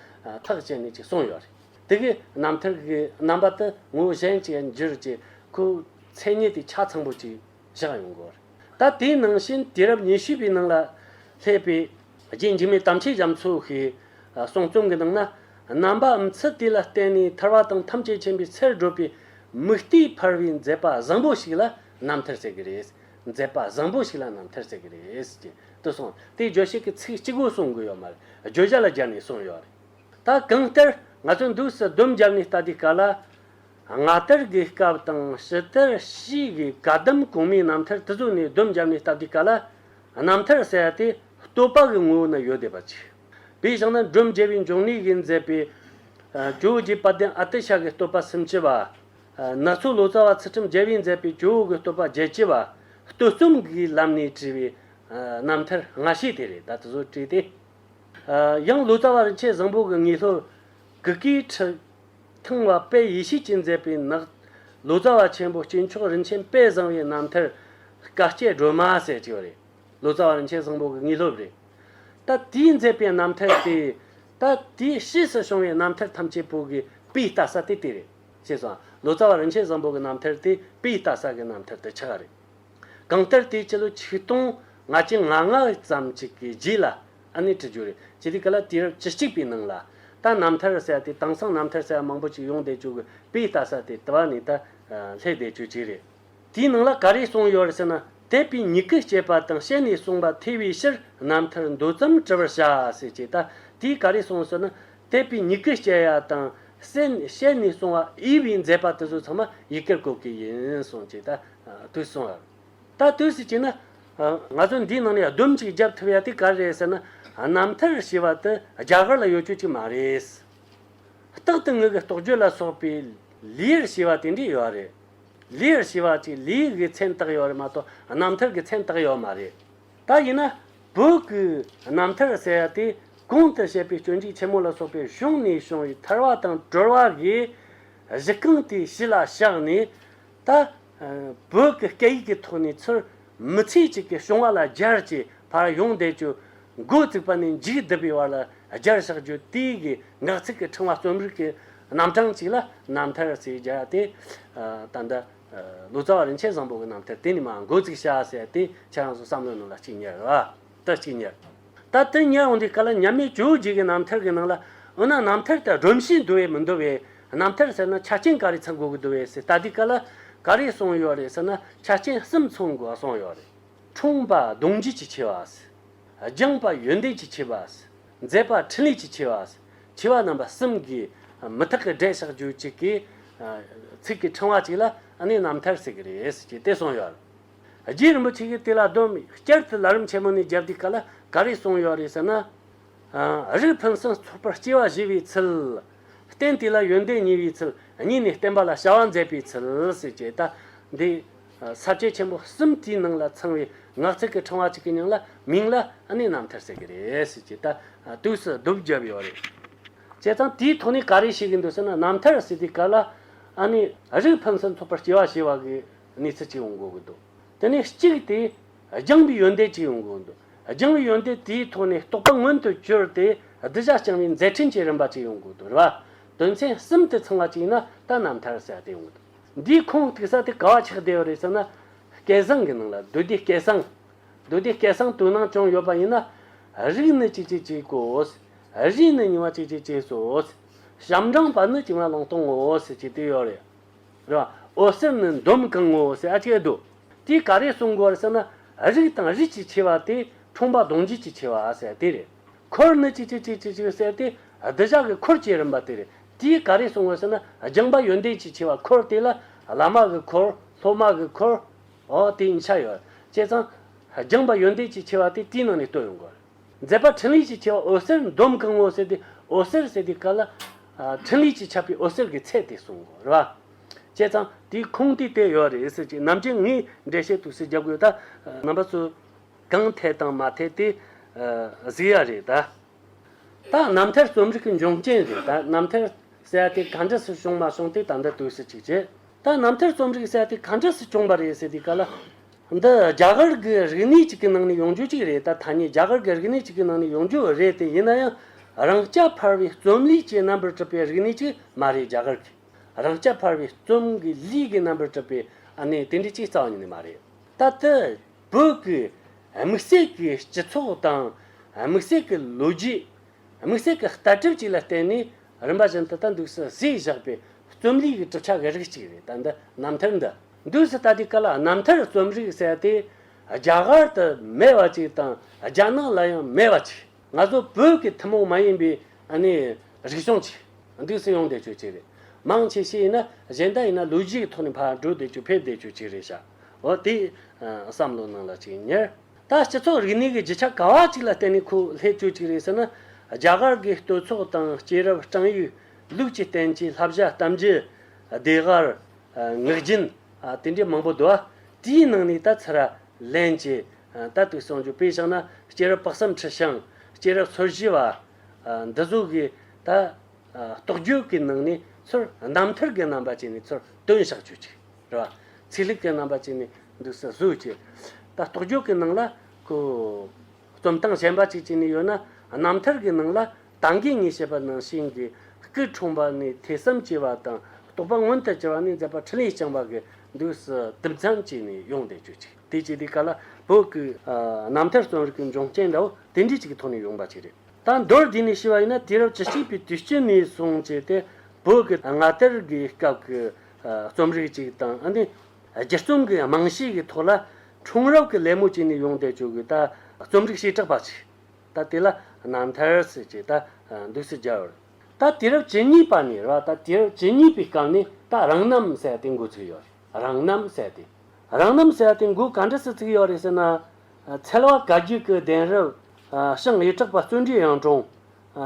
ཐག་བཅད་ནས་ཅིག་གསུངས་ཡོད་རེད། དེ་གའི་རྣམ་ཐར་གྱི་རྣམ་པ་དེ་ངོས་གཞན་གྱིས་འགྱུར་ཅེས་ཁོའི་མཚན་ཉིད་དེ་ཆ་ཚང་པོ་ཅིག། བཞག་ཡོང་དགོས། ད་དེའི་ནང་བཞིན་དུས་རབས་ཉི་ཤུ་པའི་ནང་ལ་སླེབས་པའི་རྗེས་འཇིགས་མེད་དམ་ཆོས་རྒྱ་མཚོ་ཞེས་གསུང་རྩོམ་གྱི་ནང་ན། རྣམ་པའམ་ཚུལ་དེ་ལ་བརྟེན་ནས་ཐར་བ་དང་ཐམས་ཅད་མཁྱེན་པའི་ཚེར་བགྲོད་པའི་མིག་ལྟོས་འཕར་བའི་མཛད་པ་བཟང་པོ་ཞིག་ལ་རྣམ་ཐར་ཟེར་གྱི་རེད། མཛད་པ་བཟང་པོ་ཞིག་ལ་རྣམ་ཐར་ཟེར་གྱི་རེད། ཅེས་དུ་གསུངས། དེ་བརྗོད་བྱེད་ཀྱི་ཚིག་གཅིག་པོ་གསུང་དགོས་ཡོད་མ་རེད་བརྗོད་བྱ་ལ་སྦྱར་ནས་གསུངས་ཡོད་རེད། ད་གང་ལྟར་ང་ཚོས་འདུག་སའི་སྡོམ་བརྒྱབ་ནས་ལྟ་དུས་ག་ལ་སྔ་དར་དགོས་སྐབས་དང་ཕྱི་དར་བྱེད་དགོས་སྐབས་ལྡུམ་གོང་མའི་རྣམ་ཐར་དུ་བཟོས་ནས་ལྡུམ་བརྒྱབ་ནས་སྟབས་བདེའི་སྐབས་ལ་རྣམ་ཐར་གསལ་ཏེ་བསྟོད་པ་གི་ངོ་བོ་ནི་ཡོད་བསྡད་པ་ཅིག་བས་བཞག་ན་སྒྲུབ་འཇལ་བའི་འབྱུང་གནས་ཀྱིས་མཛད་པའི། ཇོ་བོ་རྗེ་དཔལ་ལྡན་ཨ་ཏི་ཤ་གའི་བསྟོད་པ་སུམ་ཅུ་པ། ནག་ཚོགས་ལོ་ཙཱ་བ་ཚུལ་ཁྲིམས་རྒྱལ་བས་མཛད་པའི་ཇོ་བོ་དགའི་བསྟོད་པ་བརྒྱད་ཅུ་པ། བསྟོད་རྩོམ་གྱི་ལམ་ནས་བྲིས་པའི་རྣམ་ཐར་སྔ་ཕྱི་དེ་རེད་ད་དུ་བཟོ་བྲིས་ཏེ། ཡང་ལོ་ཙཱ་བ་རིན་ཆེན་བཟང་པོ་གི་ངེས་ལྷོར་གུ་གེའི་ཁྲི། ཐང་བ་དཔལ་ཡེ་ཤེས་ཀྱིས་མཛད་པའི་ནགས། ལོ་ཙཱ་བ་ཆེན་པོ་སྐྱེས་མཆོག་རིན་ཆེན་དཔལ་བཟང་བའི་རྣམ་ཐར། བཀའ་བསྐྱེད་སྒྲོལ་མ་ཟེར་གྱི་བ་རེད། ལོ་ཙཱ་བ་རིན་ཆེན་བཟང་པོ་གི་དངོས་སློབ་རེད། ད་དེས་མཛད་པའི་རྣམ་ཐར་དེ། ད་དེས་ཕྱིས་སུ་བྱུང་བའི་རྣམ་ཐར་ཐམས་ཅད་པོ་གི་དཔེ་ལྟ་ས་དེ་དེ་རེད། ཞེས་སོ། ལོ་ཙཱ་བ་རིན་ཆེན་བཟང་པོ་གི་རྣམ་ཐར་དེ་དཔེ་ལྟ་ས་གི་རྣམ་ཐར་དེ་ཆགས་རེད། གང་ལྟར་དེའི་ཕྱི་ལོ་ཆིག་སྟོང་ལྔ་བརྒྱ་ང་ལྔ་ཙམ་ཅིག་གི་རྗེས་ལ་ཨ་ནེ་ཁྲི་ཇོ་རེ་ཇི་ལི་ཀ་ལ་དུས་རབས་བཅུ་གཅིག་པའི་ནང་ལ། རྟ་རྣམ་ཐར་ཟེར་བ་དེ་དེང་སང་རྣམ་ཐར་ཟེར་བ་མང་པོ་ཅིག་ཡོང་བསྡད་བཅུག་གི་དཔེ་ལྟ་ས་དེ་དེ་བ་ནི་ད་ལྷས་བསྡད་བཅུག་ཅིག་རེད། དེའི་ནང་ལ་ག་རེ་གསུངས་ཡོད་ཟེར་ན་དད་པའི་མྱི་གུས་བཤད་པ་དང་བཤད་ནས་གསུངས་པ་ཐེ་བའི་ཕྱིར་རྣམ་ཐར་འདོད་ཙམ་བྲི་བར་བྱ་ཟེར་ཅིག་ད་དེས་ག་རེ་གསུངས་ཟེར་ན་དད་པའི་མྱི་གུས་བཤད་ཡ་དང་བཤད་ནས་གསུངས་བ་དབྱི་བའི་མཛད་པ་དེ་ཚོ་ཚང་མ་ཡི་གེར་བཀོད་གི་ཡིན་གསུངས་ཅིག་ད། དུས་སོང་ཡ། ད་དུས་སུ་བྱས་ན། ང་ཚོ་འདིའི་ནང་ནས་ལྡུམ་གཅིག་བརྒྱབ་ཐུབ་ཡ་དེ་ག་རེད་ཟེར་ན། རྣམ་ཐར་ཞེས་པ་དེ་རྒྱ་གར་ལ་ཡོད་ཆོད་ཅིག་མ་རེད། རྟག་ཏུ་ངོས་ཀྱི་རྟོགས་བརྗོད་ལ་སོགས་པའི་ལིའེར་ཞེས་པ་དེ་འདྲས་ཡོད་རེད། ལིའེར་ཞེས་པ་ཅིག་ལིའི་གི་མཚན་བཏགས་ཡོད་རེད་མ་གཏོགས་རྣམ་ཐར་གྱི་མཚན་བཏགས་ཡོད་མ་རེད། ད་ཡིན་ན། བོད་ཀྱི་རྣམ་ཐར་ཟེར་ཡ་དེ་གོང་དུ་བཤད་པའི་སྐྱོན་འཇིགས་ཆེན་མོ་ལ་སོགས་པའི་གཞུང་ནས་བྱུང་བའི་ཐར་བ་དང་གྲོལ་བ་གི་གཞི་རྐང་དེ་གཞི་ལ་བཞག་ནས། ད། བོད་ཀྱི་སྐད་ཡིག་གི་ཐོག་ནས་ཚུར་མི་ཚེ་གཅིག་གི་བྱུང་བ་ལ་སྦྱར་ཅེས་བར་ཡོང་བསྡད་ཅོ། མགོ་བཙུགས་པ་ནས་མཇུག་བསྡུ་བའི་བར་ལ་སྦྱར་བཞག་རྒྱུ་དེ་གའི་ངག་ཚིག་གི་ཕྲེང་བ་རྩོམ་རིག་གི་རྣམ་གྲངས་གཅིག་ལ་རྣམ་ཐར་ཅེས་སྦྱར་ཏེ། ད་ལྟ། ལོ་ཙཱ་བ་རིན་ཆེན་བཟང་པོ་གི་རྣམ་ཐར་དེ་ནས་མ་མགོ་བཙུགས་བྱ་ཟེར་ཏེ་ཁྱེད་རང་ཚོ་བསམ་བློའི་ནང་ལ་བཅུག་ཉེར་ལགས། ལྟ་གཅིག་ཉལ། ལྟ་བདུན་ཉལ་འོན་ཏེ་ག་ལ་ཉལ་མི་བཅུ་གཅིག་གི་ནམ་ཐལ་གྱི་ནང་ལ། འོ་ན་ནམ་ཐལ་དེ་སྒྲོམ་བཞིན་འདུ་བས་མི་འདུ་བས། ནམ་ཐལ་ཟེར་ན་ཆ་རྐྱེན་ག་རེ་ཚང་དགོས་ཀྱི་འདུ་བས་ཟེར་ལྟ་དེ་ག་ལ། ག་རེ་སོང་ཡོད་རེད་ཟེར་ན་ཆ་རྐྱེན་གསུམ་ཚང་དགོས་པ་སོང་ཡོད་རེད། འཁྲུངས་པ་གདུང་རྒྱུད་ཀྱི་ཆེ་བ། སྦྱངས་པ་ཡོན་ཏན་གྱི་ཆེ་བ། མཛད་པ་ཕྲིན་ལས་ཀྱི་ཆེ་བ། ཆེ་བ་རྣམ་པ་གསུམ་གྱི། མི་ཐག་གི་སྒྲས་ཕྱག་རྒྱུད་གཅིག་གི། ཚིག་གི་ཕྲེང་བ་གཅིག་ལ་ནི་ནམ་ཐལ་ཟེར་གྱི་རེད་ཅེས་དེ་སོང་ཡོད་རེད། རྗེ་རིན་པོ་ཆེ་གིས་དེ་ལ་གདོན་མི་བསྐྱལ་ཏེ་ལ་རིམ་ཆེན་མོ་ནས་རྒྱབ་དུས་ག་ལ་ག་རེ་གསུངས་ཡོད་རེད་ཟེར་ན། རིགས་ཕུན་སུམ་ཚོགས་པར་སྐྱེ་བ་བཞེས་པའི་ཚུལ། རྟེན་དེ་ལ་ཡོན་ཏན་ཉེ་བའི་ཚུལ་གཉིས་ནས་བསྟན་པ་ལ་བྱ་བ་མཛད་པའི་ཚུལ་ཟེར་ཅེས་ད་ལྟའི་ཟབ་ཁྱད་ཆེན་པོ་གསུམ་དེའི་ནང་ལ་ཚང་བའི་ངག་ཚིག་གི་ཕྲེང་བ་གཅིག་གི་ཉིང་ལ་མིང་ལ་གནས་རྣམ་ཐར་ཟེར་གྱི་རེད་ཟེར་ཅེས་ད་དུས་སུ་བསྡུ་བརྒྱབ་ཡོད་རེད། བྱས་ཙང་དེའི་ཐོག་ནས་ག་རེ་བྱེད་ཀྱི་འདུག་ཟེར་ན་རྣམ་ཐར་ཟེར་དུས་ག་ལ་ཨ་ནི་རིགས་ཕུན་སུམ་ཚོགས་པར་སྐྱེ་བ་བཞེས་བ་གི། གནས་ཚུལ་གཅིག་ཡོང་དགོས་ཀྱི་འདུག་དེ་ནས་གཅིག་དེ་རྐྱང་པའི་ཡོན་ཏན་གཅིག་ཡོང་དགོས་ཀྱི་འདུག་རྐྱང་པའི་ཡོན་ཏན་དེའི་ཐོག་ནས་རྟོགས་པ་མངོན་དུ་གྱུར་ཏེ་བསྡུ་བྱ་རྐྱང་པའི་མཛད་འཕྲིན་གྱི་རིམ་པ་གཅིག་ཡོང་དགོས་ཀྱི་འདུག་རེད་པ། དོན་ཚན་གསུམ་དེ་ཚང་བ་གཅིག་ཡིན་ན་ད་རྣམ་ཐར་ཟེར་བ་དེ་ཡོང་གི་འདུག་འདིའི་ཁུངས་གཏུགས་ས་དེ་ག་བ་ཆགས་བསྡད་ཡོད་རེད་ཟེར་ན། སྐལ་བཟང་གི་ནང་ལ་བདུད་སྡེའི་སྐལ་བཟང། བདུད་སྡེའི་སྐལ་བཟང་དུ་སྣང་ཅུང་ཡོད་པ་ཡིན་ན། རིགས་ནི་གཅིག་ཅིག་གཅིག་གོ། རིགས་ནི་ཉི་མ་གཅིག་ཅིག་གཅིག་སོ། ཞབས་འབྲང་བ་ནི་བྱིན་བརླབས་བླང་སྟོང་ངོ། ཞེས་དེ་ཡོད་རེད། ར། འོད་ཟེར་ནི་འདོམ་གང་ངོ་ཞེས་ཨ་ཅེ་དུ། དེས་ག་རེ་གསུང་གོ་ཟེར་ན། རིགས་དང་རིགས་ཀྱི་ཆེ་བ་སྟེ་འཁྲུངས་པ་གདོང་འཇུག་ཀྱི་ཆེ་བ་ཟེར་དེ་རེད། འཁོར་ནི་ཅི་ཅི་ཅི་ཅི་ཅི་ཟེར་ཏེ་བདུད་བཞག་གི་འཁོར་བཅས་རིམ་པ་དེ་རེད། དེས་ག་རེ་གསུང་ངོ་ཟེར་ན། སྦྱིན་པ་ཡོན་ཏན་གྱི་ཆེ་བ་འཁོར་དེ་ལ། བླ་མ་གི་འཁོར། སློབ་མ་གི་འཁོར། འོ་དེ་གཉིས་ཆ་ཡོད། བྱས་ཙང། སྦྱིན་པ་ཡོན་ཏན་གྱི་ཆེ་བ་དེ་དེའི་ནང་ནས་བཏོན་ཡོང་གོ་རེད། མཛད་པ་ཕྲིན་ལས་ཀྱི་ཆེ་བ་འོད་ཟེར་འདོམ་གང་མོ་ཟེར་ཏེ་འོད་ཟེར་ཟེར་ཏེ་ཀ་ལ། ཕྲིན་ལས་ཀྱི་ཆབ་པའི་འོད་ཟེར་གྱི་ཚད་དེ་གསུང་ངོ། རེ་བ། བྱས་ཙང་དེའི་ཁུངས་དེ་དེ་ཡོད་རེད་ཟེར་གྱི་ནམ་ཅན་ངའི་འགྲེལ་བཤད་དུ་ཟེར་རྒྱབ་དགོས་ད། རྣམ་པ་ཚོས་གང་འཐད་དང་མ་འཐད་དེ་གཟིགས་ཡ་རེད་ད། ད་རྣམ་ཐར་རྩོམ་རིག་གི་འབྱུང་རྐྱེན་རེད་ད་རྣམ་ཐར་ཟེར་ཡ་དེ་ག་འདྲ་སུ་བྱུང་མ་བྱུང་དེ་ད་འདི་ལྟོས་ཟེར་གྱི་རེད་ད་རྣམ་ཐར་རྩོམ་རིག་ཟེར་ཡ་དེ་ག་འདྲ་སུ་བྱུང་བ་རེད་ཟེར་ཏེ་ཀ་ལ། འདི་རྒྱ་གར་གྱི་རིག་གནས་གཅིག་གི་ནང་ནས་ཡོང་རྒྱུ་གཅིག་རེད་ད་ཐ་སྙད་རྒྱ་གར་གྱི་རིག་གནས་གཅིག་གི་ནང་ནས་ཡོང་རྒྱུ་རེད་དེ་ཡིན་ན་ཡང་རང་སྐྱ་འཕར་བའི་རྩོམ་ལུས་ཀྱི་རྣམ་པར་གྲུབ་པའི་རིག་གནས་གཅིག་མ་རེད་རྒྱ་གར་གྱི་རང་སྐྱ་འཕར་བའི་རྩོམ་གྱི་ལུས་ཀྱི་རྣམ་པར་གྲུབ་པའི་གནས་དེ་འདྲའི་གཅིག་རྩ་བ་ཉིད་ནས་མ་རེད་ད་ལྟ་བོད་ཀྱི་དམིགས་བསལ་གྱི་སྤྱི་ཚོགས་དང་དམིགས་བསལ་གྱི་ལོ་རྒྱུས་དམིགས་བསལ་གྱི་ལྟ་གྲུབ་ཅིག་ལ་བརྟེན་ནས་རིམ་པ་བཞིན་དུ་ད་འདུག་སུ་ཟིག་བཞག་པའི་རྩོམ་ལུས་ཀྱི་གྲུབ་ཆ་གི་རིགས་གཅིག་རེད་ད་འདི་རྣམ་ཐར་འདི། འདུས་སུ་ལྟ་དུས་ཀ་ལ་རྣམ་ཐར་རྩོམ་རིག་གསལ་ཏེ་རྒྱ་གར་དུ་མེད་པ་ཅིག་དང་རྒྱ་ནག་ལ་ཡང་མེད་པ་ཅིག་ང་ཚོ་བོད་ཀྱི་ཐུན་མོང་མ་ཡིན་པའི་རིག་གཞུང་ཅིག་འདུས་སུ་ཡོང་བསྡད་ཆོས་ཅིག་རེད། མང་ཆེ་ཤས་ཡིན་ན་གཞན་དག་ཡིན་ན་ལུས་ལྗིད་ཀྱི་ཐོག་ནས་ཕར་འགྲོ་བསྡད་ཆོས་ཕེབས་བསྡད་ཆོས་ཅིག་རེད་བྱ་འོ་དེ་བསམ་བློ་ནང་ལ་ཅིག་ཉར། ད་སྤྱི་ཚོགས་རིག་གནས་ཀྱི་བརྗིད་ཆགས་ག་བ་ཅིག་ལ་བརྟེན་ནས་ཁོ་སླེབས་ཆོས་ཅིག་རེད་ཟེར་ན་རྒྱ་གར་གྱི་བསྟོད་ཚོགས་དང་སྐྱེས་རབས་བསྐྲངས་ཡུལ་ལུགས་ཀྱི་རྟེན་གྱི་ལྷ་བྱ་གཏམ་རྒྱུད་བདེ་གར་ངག་རྒྱུན། དེ་འདྲའི་མང་པོ་འདུག། དེའི་ནང་ནས་ད་ཚར་ལན་གྱི། ད་དུ་གསང་རྒྱུད་དཔེ་བཞག་ན། སྐྱེས་རབས་དཔག་བསམ་ཁྲི་བྱང། སྐྱེས་རབས་ཚོར་བཞི་བ། འདི་གཟུགས་ཀྱི། ད་རྟོགས་རྒྱུད་ཀྱི་ནང་ནས་ཚུར། རྣམ་ཐར་གྱི་རྣམ་པ་ཅན་ནས་ཚུར། སྟོན་བཞག་བརྗོད་ཅིག། རེ་བ། ཚིག་ལྷུག་གི་རྣམ་པ་ཅན་ནས། འདུག་ས་གཟུགས་ཀྱི། ད་རྟོགས་རྒྱུད་ཀྱི་ནང་ལ། ཁུ། རྩོམ་སྟངས་གཞན་པ་ཅིག་ཅིག་ནས་ཡོད་ན་རྣམ་ཐར་གྱི་ནང་ལ་དང་གི་ངས་བཤད་པ་ནང་བཞིན་གྱི་སྐུའི་འཁྲུངས་པ་ནས་ཐེ་ཚོམ་བཅད་པ་དང་རྟོག་པ་མངོན་དུ་གྱུར་བ་ནས་མཛད་པ་འཕྲིན་ལས་རྐྱང་པ་གི་མདུན་སུ་དུམ་མཚམས་བཅད་ནས་ཡོང་བསྡད་ཆོས་ཅིག་དེ་ཅི་དེ་ག་ལ་བོད་སྐུའི་རྣམ་ཐར་རྩོམ་རིག་གི་འབྱུང་རྐྱེན་འདྲ་བོ་དེ་འདྲའི་ཅིག་གི་ཐོག་ནས་ཡོང་པ་ཅིག་རེད་ད་མདོར་དེད་ནས་ཤི་བ་ཡིན་ན་དུས་རབས་བཅུ་གཅིག་པའི་དུས་དཀྱིལ་ནས་བཟུང་བྱས་ཏེ་བོད་ཀྱི་སྔ་དར་གྱི་སྐབས་ཀྱི་རྩོམ་རིག་ཅིག་དང་ཨ་ནི་སྒྱུར་རྩོམ་གྱི་རྨང་གཞི་ཡི་ཐོག་ལ་འཁྲུངས་རབས་ཀྱི་ལད་མོ་བཅིངས་ནས་ཡོང་བསྡད་བྱུང་བའི་ད་རྩོམ་རིག་བྱེ་བྲག་པ་ཞིག་ད་དེ་ལ་སྣང་མཐར་ཟད་ཅེས་ད་འདོད་སྲིད་རྒྱལ་བར། ད་དུས་རབས་ཇི་སྙིད་པ་ནས་ར་ད་དུས་རབས་ཇི་སྙིད་པའི་སྐབས་ནས་ད་རང་རྣམ་གསལ་ཏེ་འགོ་ཚུགས་ཡོད་རེད་རང་རྣམ་གསལ་ཏེ། རང་རྣམ་གསལ་ཏེ་འགོ་ག་འདྲ་སུ་ཚུགས་ཡོད་རེད་ཟེར་ན། ཚལ་བ་ག་རྒྱུད་ཀྱི་གདན་རབས། ཞིང་ཡེ་གྲགས་པ་བརྩོན་འགྲུས་ཡང་དྲུང།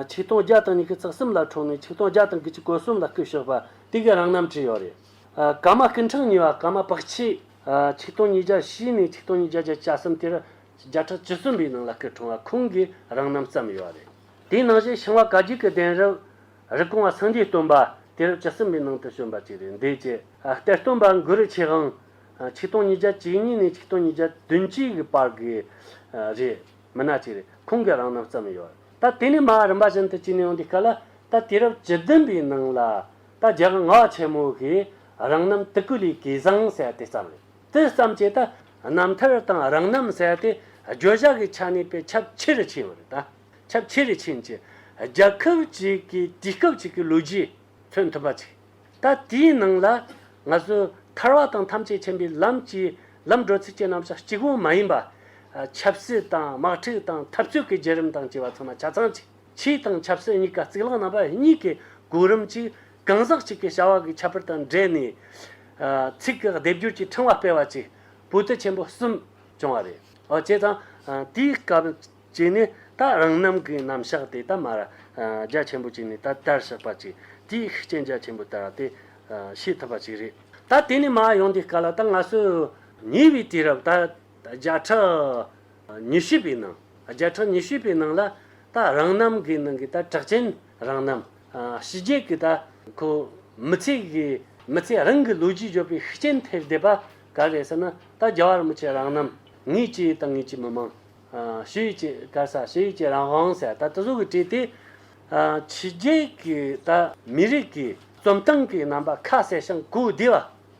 ཆིག་སྟོང་བརྒྱ་དང་ཉི་ཤུ་རྩ་གསུམ་ལ་འཁྲུངས་ནས་ཆིག་སྟོང་བརྒྱ་དང་དགུ་བཅུ་གོ་གསུམ་ལ་སྐུ་བཞུགས་པ་དེ་གའི་རང་རྣམ་བྲིས་ཡོད་རེད། ཀཱ་མ་ཀུན་འཕྲང་གཉིས་པ་ཀཱ་མ་བག་ཕྱེ། ཆིག་སྟོང་ཉིས་བརྒྱ་བཞི་ནས་ཆིག་སྟོང་ཉིས་བརྒྱ་བརྒྱད་བྱ་གསུམ་དེར། བརྒྱ་ཕྲག་བཅུ་གསུམ་པའི་ནང་ལ་སྐུ་འཁྲུངས་བ་ཁོང་གིས་རང་རྣམ་བརྩམས་ཡོད་པ་རེད། དེའི་ནང་བཞིན་ཤིང་བ་བཀའ་བརྒྱུད་ཀྱི་གདན་རབས། རིགས་གོང་བ་སངས་རྒྱས་སྟོན་པ་དེ་རབས་བཅུ་གསུམ་པའི་ནང་དུ་བྱོན་པ་ཅིག་རེད་འདོད་ཅེས། གཏེར་སྟོན་པ་མགུར་རིག་ཆེ་ཧང། ཆིག་སྟོང་ཉིས་བརྒྱ་ཇི་གཉིས་ནས་ཆིག་སྟོང་ཉིས་བརྒྱ་བདུན་གཅིག་གི་བར་གྱི། རེད། མི་སྣ་ཅིག་རེད་ཁོང་གིས་རང་རྣམ་བརྩམས་ཡོད། ད་དེ་ནས་མ་རིམ་པ་བཞིན་དུ་བྱས་ནས་ཡོང་དུས་ག་ལ། ད་དེ་རབས་བཅུ་བདུན་པའི་ནང་ལ། ད་རྒྱག་ངག་ཆེན་མོ་ཞིག་རང་རྣམ་ཏི་ཀུ་ལི་ཀི་བཟང་བསལ་ཏེ་བརྩམས། དེ་བརྩམས་རྗེས་ད་རྣམ་ཐར་དང་རང་རྣམ་བསལ་ཏེ་བརྗོད་བྱ་གི་ཆ་ནས་པའི་ཁྱབ་ཆེ་རུ་ཕྱིན་པར་ད་ཁྱབ་ཆེ་རུ་ཕྱིན་གྱི་རྒྱལ་ཁབ་ཅིག་གི་དུས་སྐབས་ཅིག་གི་ལོ་རྒྱུས་མཚོན་ཐུབ་པ་ཅིག་ད་དེའི་ནང་ལ་ང་ཚོས་ཐར་བ་དང་ཐམས་ཅད་མཁྱེན་པའི་ལམ་གྱི་ལམ་འགྲོ་ཚུལ་གྱི་རྣམ་གཞག་གཅིག་པོ་མ་ཡིན་པ། ཆབ་སྲིད་དང་དམག་འཁྲུག་དང་འཐབ་རྩོད་ཀྱི་བརྒྱུད་རིམ་དང་བཅས་པ་ཚང་མ་ཆ་ཚང་གཅིག། ཆོས་དང་ཆབ་སྲིད་གཉིས་ཀ་རྩིག་ལག་རྣམ་པ་གཉིས་ཀྱི་གོ་རིམ་གཅིག་གང་ཟག་གཅིག་གི་བྱ་བ་གི་ཁྱད་པར་དང་འབྲེལ་ནས། ཚིག་གི་སྡེབ་སྦྱོར་གྱི་ཕྲེང་བ་སྤེལ་བ་བཅས་བོད་དུ་ཆེན་པོ་གསུམ་བྱུང་བ་རེད། ཨོ་བྱས་ཙང་དེའི་སྐབས་ཀྱི་ནི་ད་རང་རྣམ་གྱི་རྣམ་གཞག་དེ་ད་མར་རྒྱ་ཆེན་པོ་ཅིག་ནས་ད་ལྟར་བཞག་པ་ཅིག་དེའི་ཤུགས་རྐྱེན་རྒྱ་ཆེན་པོ་ལྟར་དེ་ཤེས་ཐུབ་པ་ཅིག་རེད། ད་དེ་ནས་མར་ཡོང་དུས་སྐབས་ལ་ད་ང་ཚོས་ཉེ་བའི་དུས་རབས་ད་བརྒྱ་ཕྲག་ཉི་ཤུ་པའི་ནང་བརྒྱ་ཕྲག་ཉི་ཤུ་པའི་ནང་ལ་ད་རང་རྣམ་གི་ནང་གི་ད་གྲགས་ཅན་རང་རྣམ་ཕྱི་རྒྱལ་གྱི་ད་ཁོ་མི་ཚེ་གི་མི་ཚེ་རང་གི་ལོ་རྒྱུས་བརྗོད་པའི་ཤུགས་རྐྱེན་ཐེབས་བསྡད་པ་ག་རེད་ཟེར་ན་ད་རྒྱ་བར་མི་ཆེ་རང་རྣམ་ངེད་ཀྱི་ད་ངེད་ཀྱི་མི་མང་ཕྱི་ཡུལ་གྱི་སྐར་ས་ཕྱི་ཡུལ་གྱི་རང་དབང་ས་ད་དེ་ཚོ་གི་བྲིས་ཏེ་ཕྱི་རྒྱལ་གྱི་ད་མི་རིགས་ཀྱི་རྩོམ་སྟངས་ཀྱི་རྣམ་པ་ཁ་གསལ་ཞིང་གོ་བདེ་བ་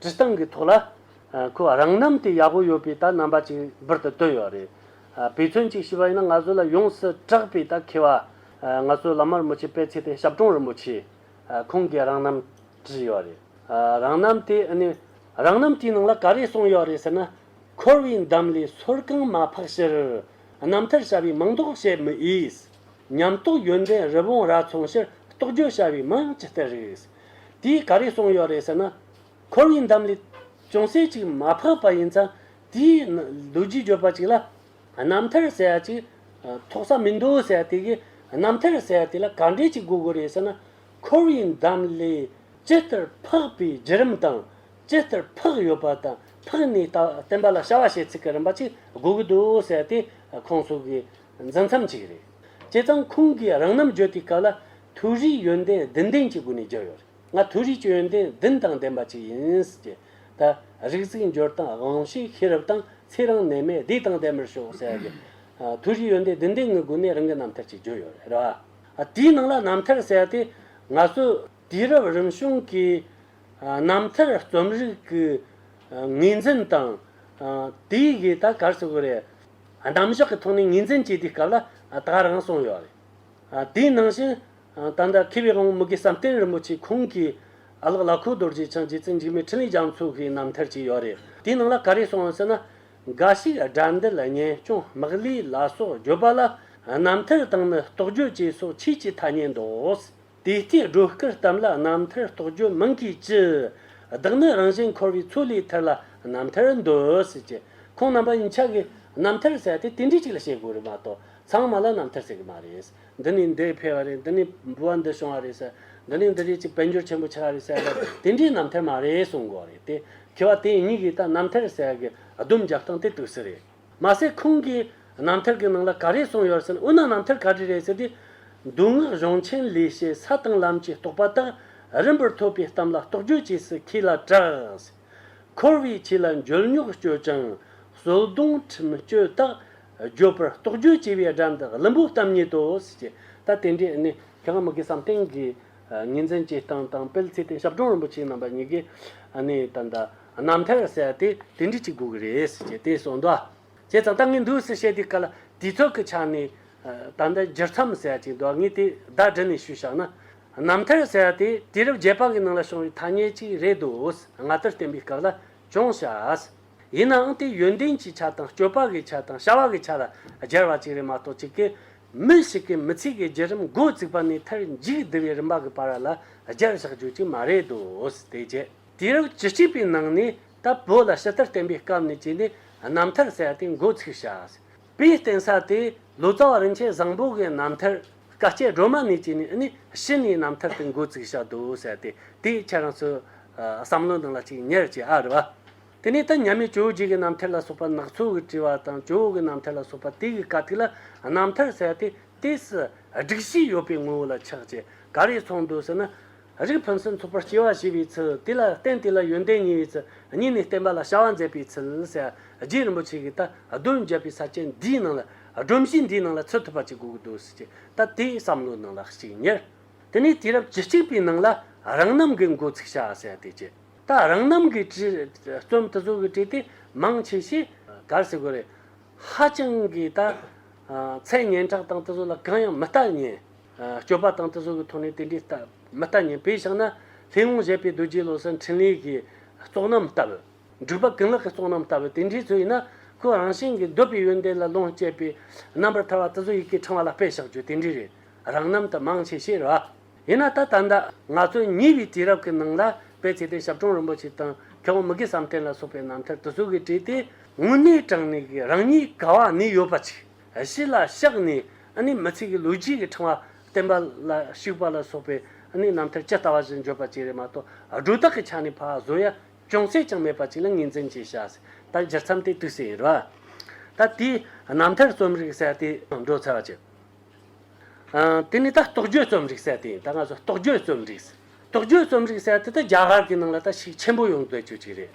སྤྱི་སྟངས་ཀྱི་ཐོག་ལ། ཁོས་རང་རྣམ་དེ་ཡག་པོ་ཡོད་པའི་ད་རྣམ་པ་ཅིག་འབུར་དུ་བཏོན་ཡོད་རེད། དཔེ་མཚོན་ཅིག་ཞུས་པ་ཡིན་ན་ང་ཚོ་ལ་ཡོངས་སུ་གྲགས་པའི་ད་མཁས་བ། ང་ཚོའི་བླ་མ་རིན་པོ་ཆེ་པད་ཚེ་བརྟན་ཞབས་དྲུང་རིན་པོ་ཆེ། ཁོང་གིས་རང་རྣམ་བྲིས་ཡོད་རེད། རང་རྣམ་དེ་ནི། རང་རྣམ་དེའི་ནང་ལ་ག་རེ་གསུངས་ཡོད་རེད་ཟེར་ན། འཁོར་བའི་འདམ་ལས་སོར་རྐང་མ་འཕགས་ཕྱིར། རྣམ་ཐར་བྱ་བའི་མིང་འདོགས་བྱེད་མི་ཨེས། ཉམས་རྟོགས་ཡོན་ཏན་རི་བོང་རྭ་མཚུངས་ཕྱིར་རྟོགས་བརྗོད་བྱ་བའི་མིང་ཇི་ལྟར་རིགས། དེས་ག་རེ་གསུངས་ཡོད་རེད་ཟེར་ན། ཁོ་བོའི་འདམ་ལས་ཅུང་ཟད་ཅིག་མ་ཕབ་པ་ཡིན་ཙང་དེའི་ལུས་རྒྱུས་འགྱུར་བ་ཅིག་ལ། རྣམ་ཐར་ཟེར་བ་ཅིག་ཐོག་ས་མི་འདུག་ཟེར་དེ་གིས་རྣམ་ཐར་ཟེར་བ་དེ་ལ་ག་འགྲེལ་ཅིག་དགོས་དགོས་རེད་ཟེར་ན། ཁོ་བོའི་འདམ་ལས་ཇི་ལྟར་ཕག་པའི་བརྒྱུད་རིམ་དང། ཇི་ལྟར་ཕག་ཡོད་པ་དང་ཕག་ནས་ད་བསྟན་པ་ལ་བྱ་བ་བྱེད་ཚུལ་གྱི་རིམ་པ་ཅིག་དགོས་ཀྱི་འདུག་ཟེར་དེ་ཁོང་སོགས་ཀྱི་འཛིན་མཚམས་ཅིག་རེད། བྱས་ཙང་ཁོང་གིས་རང་རྣམ་བརྗོད་དེའི་སྐབས་ལ་ཐུགས་རེའི་ཡོན་ཏན་བདུན་ལྡན་གྱི་སྒོ་ནས་རྒྱལ་ཡོད་རེད་ང་ཐུགས་རེའི་ཡོན་ཏན་བདུན་དང་ལྡན་པ་ཅིག་ཡིན་ཀྱི། ད་རིག་གཟིགས་འབྱོར་དང་དབང་ཤེས་ཤེས་རབ་དང་ཚེ་རིང་ནད་མེད་བདེ་དང་ལྡན་པར་ཤོག་ཟེར་གི། ཐུགས་རེའི་ཡོན་ཏན་བདུན་ལྡན་ངི་སྒོ་ནས་རང་གི་རྣམ་ཐར་ཅིག་བརྗོད་ཡོད་རེད་ར། དེའི་ནང་ལ་རྣམ་ཐར་ཟེར་ཏེ་ང་ཚོ་དུས་རབས་རིམ་བྱུང་གི་རྣམ་ཐར་རྩོམ་རིག་གི་ངོས་འཛིན་དང། དེའི་གི་ད་གར་སོ་གི་རེད། རྣམ་གཞག་གི་ཐོག་ནས་ངོས་འཛིན་བྱས་དུས་སྐབས་ལ་ད་རང་གསུངས་ཡོད་རེད། དེའི་ནང་བཞིན། ད་ལྟ་མཁས་པའི་དབང་པོ་མུ་གེ་བསམ་གཏན་རིན་པོ་ཆེ་ཁོང་གིས། ཨ་ལགས་བླ་ཁོ་རྡོ་རྗེ་འཆང་རྗེ་བཙུན་འཇིགས་མེད་འཕྲིན་ལས་རྒྱ་མཚོ་གི་རྣམ་ཐར་ཅིག་ཡོད་རེད་དེའི་ནང་ལ་ག་རེ་གསུངས་ཡོད་ཟེར་ན། འགའ་ཞིག་དགྲ་འདི་ལ་ངན་སྐྱོང་དམག་ལས་ལ་སོགས་བརྗོད་པ་ལ། རྣམ་ཐར་དང་ནི་རྟོགས་བརྗོད་ཅེས་སོགས་ཕྱིས་ཀྱི་ཐ་སྙད་འདོགས། དེ་ལྟའི་སྒྲོ་སྐུར་གཏམ་ལ་རྣམ་ཐར་རྟོགས་བརྗོད་མིང་གིས་ཅི། བདག་ནི་རང་བཞིན་འཁོར་བའི་ཚུལ་ལས་ཐར་ལ་རྣམ་ཐར་འདོད། ཟེར་གྱི་ཁོང་རྣམ་པ་གཉིས་ཆ་གིས་རྣམ་ཐར་ཟེར་ཏེ་དེ་འདྲའི་ཅིག་ལ་བཤད་དགོས་རེད་མ་གཏོགས་ཚང་མ་ལ་རྣམ་ཐར་ཟེར་གྱི་མ་རེད། འདི་ནས་འདི་འཕེལ་བ་རེད་འདི་ནས་འབུལ་བ་འདི་བྱུང་བ་རེད། འདི་ནས་འདི་རིགས་ཀྱི་དཔལ་འབྱོར་ཆེན་པོ་ཆགས་རེད་ཟེར་བ་དེ་འདྲའི་རྣམ་ཐར་མ་རེད་གསུང་དགོས་རེད་དེ། ཁྱེད་བ་དེ་གཉིས་ཀྱིས་ད་རྣམ་ཐར་ཟེར་གྱི་ལྡུམ་རྒྱག་སྟངས་དེ་དུས་སུ་རེད། མ་ཟད་ཁོང་གིས་རྣམ་ཐར་གྱི་ནང་ལ་ག་རེ་གསུང་ཡོད་ཟེར་ན་འོ་ན་རྣམ་ཐར་ག་རེ་རེད་ཟེར་ཏེ། མདོ་སྔགས་གཞུང་ཆེན་ལས་བཤད་ས་དང་ལམ་གྱི་རྟོགས་པ་དག་རིམ་པར་ཐོས་པའི་གཏམ་ལ་རྟོགས་བརྗོད་བྱས་སུ་ཁྱེད་ལ་གྲགས། འཁོར་བའི་ཆོས་ལ་འཇོལ་ཉོག་སྤྱོད་ཅིང་གསོལ་སྡོང་ཁྲིམས་གཅོད་དག་བརྗོད་པར་རྟོག་བརྗོད་བྱས་པའི་སྒྲ་འདི་གླིང་བུ་གཏམ་ཉིད་དུ་བྱས། ད་དེ་འདྲའི་གནས་གལ་མི་དགེ་བསམ་གཏན་གྱི་ངེས་འཛིན་གྱི་སྟངས་དང་སྤེལ་ཚེ་དེ་ཞབས་དྲུང་རིན་པོ་ཆེའི་རྣམ་པ་གཉིས་ཀའི་གནས་དང་རྣམ་ཐར་གསལ་ཏེ་དེ་འདྲའི་གཅིག་དགོས་ཀྱི་རེད་ཟེར་གྱི་དེ་སོགས་འདུ་བྱེད་ཙམ་ལྟ་ངེས་འདུག་ཟེར་བཤད་དེ་ག་ལ་དུས་ཚོད་ཀྱི་ཆ་ནས་ད་ལྟ་སྦྱར་མཚམས་གསལ་ཅིང་འདུ་ངེས་དེ་བདག་བསྒྲིལ་ནས་ཞུས་བཞག་ན། རྣམ་ཐར་གསལ་ཏེ་དུས་རབས་བརྒྱད་པ་གྱི་ནང་ལ་བྱུང་བའི་ཐ་སྙད་ཅིག་རེད་འདུག་སྔ་དར་བསྟན་པའི་སྐབས་ལ་ཅུང་བྱ། ཡིན་ནའང་དེ་ཡོན་ཏན་གྱི་ཆ་དང་སྤྱོད་པ་གི་ཆ་དང་བྱ་བ་གི་ཆ་ལ་སྦྱར་བ་ཅིག་རེད་མ་གཏོགས་ཅིག་གིས་མི་ཞིག་གི་མི་ཚེ་གི་བརྒྱུད་རིམ་མགོ་བཙུགས་པ་ནས་མཐར་མཇུག་བསྡུ་བའི་རིམ་པ་གི་བར་ལ་སྦྱར་བཞག་རྒྱུ་ཅིག་མ་རེད་དོ། དེ་རྗེས། དུས་རབས་བཅུ་གཅིག་པའི་ནང་ནས་ད་བོད་ལ་ཕྱི་དར་བསྟན་པའི་སྐབས་ནས་བཅུས་ནས་རྣམ་ཐར་གསལ་ཏེ་མགོ་ཚུགས་བྱ། པའི་རྟེན་ས་དེ་ལོ་ཙཱ་བ་རིན་ཆེན་བཟང་པོ་གའི་རྣམ་ཐར་བཀའ་སྐྱེལ་སྒྲོལ་མ་ནས་བྱས་ནས་ནི་ཕྱི་ནས་རྣམ་ཐར་དུ་འགོ་བཙུགས་བྱ་དོ་ཟེར་ཏེ་དེའི་ཕྱིར་རང་ཚོའི་བསམ་བློ་འདང་ལ་ཅིག་ཉེར་བྱས་ཨ་རེ་བ། དེ་ནས་ད་མྱ་མི་ཇོ་བོ་རྗེ་གི་རྣམ་ཐར་ལ་སོགས་པ་ནག་ཚོ་གི་བྲིས་བ་དང་ཇོ་བོ་གི་རྣམ་ཐར་ལ་སོགས་པ་དེ་གི་དཀའ་ཐིག་ལ་རྣམ་ཐར་ཟེར་ཏེ་དེས་སྒྲིག་གཞི་ཡོད་པའི་ངོ་བོ་ལ་ཆགས་ཅེས་ག་རེ་ཚོགས་འདུག་ཟེར་ན། རིགས་ཕུན་སུམ་ཚོགས་པར་སྐྱེ་བ་ཞེས་པའི་ཚུལ་དེ་ལ་བརྟེན་དེ་ལ་ཡོན་ཏན་ཉེ་བའི་ཚུལ་གཉིས་ནི་བསྟན་པ་ལ་བྱ་བ་མཛད་པའི་ཚུལ་ཞེས་རྗེ་རིན་པོ་ཆེ་གིས་ད་གདོན་བརྒྱབ་པའི་ས་བཅད་འདིའི་ནང་ལ་སྒྲོམ་གཞི་འདིའི་ནང་ལ་ཚུད་ཐུབ་པ་ཅིག་དགོས་འདུག་ཅེས་ད་ལྟའི་བསམ་བློའི་ནང་ལ་གཅིག་ཉེར། དེ་ནས་དུས་རབས་བཅུ་གཅིག་པའི་ནང་ལ་རང་རྣམ་གྱི་མགོ་ཚུགས་བྱ་བ་ཞེས་དེ་བྱས། ད་རང་རྣམ་གྱི་བརྩོན་འགྲུས་ཀྱི་བྲིས་ཏེ་མང་ཆེ་ཤས་གར་སི་གོ་རེད། ཧ་ཅང་གིས་ད་ཚད་སྙན་གྲགས་དང་དུ་བཟོ་ལ་གང་ཡང་མི་ལྟ་ཉན། སྤྱོད་པ་དང་དུས་སོགས་ཀྱི་ཐོག་ནས་དེ་འདྲའི་ལྟ་མི་ལྟ་ཉན་པས་ཆགས་ན་ལྷའི་དབང་བཞེད་པའི་རྡོ་རྗེའི་བློ་གསལ་འཕྲིན་ལས་ཀྱི་རྟོགས་རྣམ་ལྟ་བུ། འགྲུབ་པ་གང་ལགས་ཀྱི་རྟོགས་རྣམ་ལྟ་བུ་དེ་འདྲའི་ཚུལ་ཡིན་ན་ཁོ་རང་བཞིན་གྱིས་འདོད་པའི་ཡོན་ཏན་ལ་ལོངས་སྤྱད་པས་རྣམ་པར་ཐར་བ་དུས་སོགས་ཡི་གེ་ཕྲེང་བ་ལ་སྤེལ་བཞག་རྒྱུ་དེ་འདྲའི་རེ་རང་རྣམ་དུ་མང་ཆེ་ཤེས་ར། ཡིན་ན་ད་ད་ང་ཚོས་ཉེ་བའི་དུས་རབས་ཀྱི་ནང་ལ་དཔེ་བྱས་ཏེ་ཞབས་དྲུང་རིན་པོ་ཆེ་དང་མཁས་དབང་མི་དགེ་བསམ་གཏན་ལ་སོགས་པའི་རྣམ་ཐར་དུས་སོགས་ཀྱི་བྲིས་ཏེ་དངོས་གནས་དྲངས་ནས་ཀྱི་རང་ཉིད་ག་བ་ནས་ཡོད་པ་ཅིག། གཞི་ལ་བཤགས་ནས་ནི་མི་ཚིག་གི་ལུས་དཀྱིལ་གྱི་འཕྲེང་བ་བརྟན་པ་ལ་བཤིག་པ་ལ་སོགས་པའི་ནི་རྣམ་ཐར་ཇི་ལྟ་བ་བཞིན་བརྗོད་པ་བཅས་རེ་མ་གཏོགས་སྒྲོ་བཏགས་ཀྱི་ཆ་ནས་ཕ་བཟོ་ཡ་ཅུང་ཟད་ཀྱང་མེད་པ་ཅིག་ལ་ངོས་འཛིན་བྱས་བྱ་སྲིད་ད་སྦྱར་མཚམས་དེ་དུས་སུ་ཡིན་རོ། ད་དེའི་རྣམ་ཐར་རྩོམ་རིག་གསལ་ཏེ་འགྲོ་ཚར་བ་ཅི། དེ་ནི་ད་རྟོག་བརྗོད་རྩོམ་རིག་གསལ་ཏེ་ཡིན་ད་སྔ་སོ་རྟོག་བརྗོད་རྩོམ་རིག་རྟོག་བརྗོད་རྩོམ་རིག་གསལ་ཏེ་ད་རྒྱ་གར་གྱི་ནང་ལ་ད་ཤུགས་ཆེན་པོ་ཡོང་འདོད་ཅིག་ཅིག་རེད།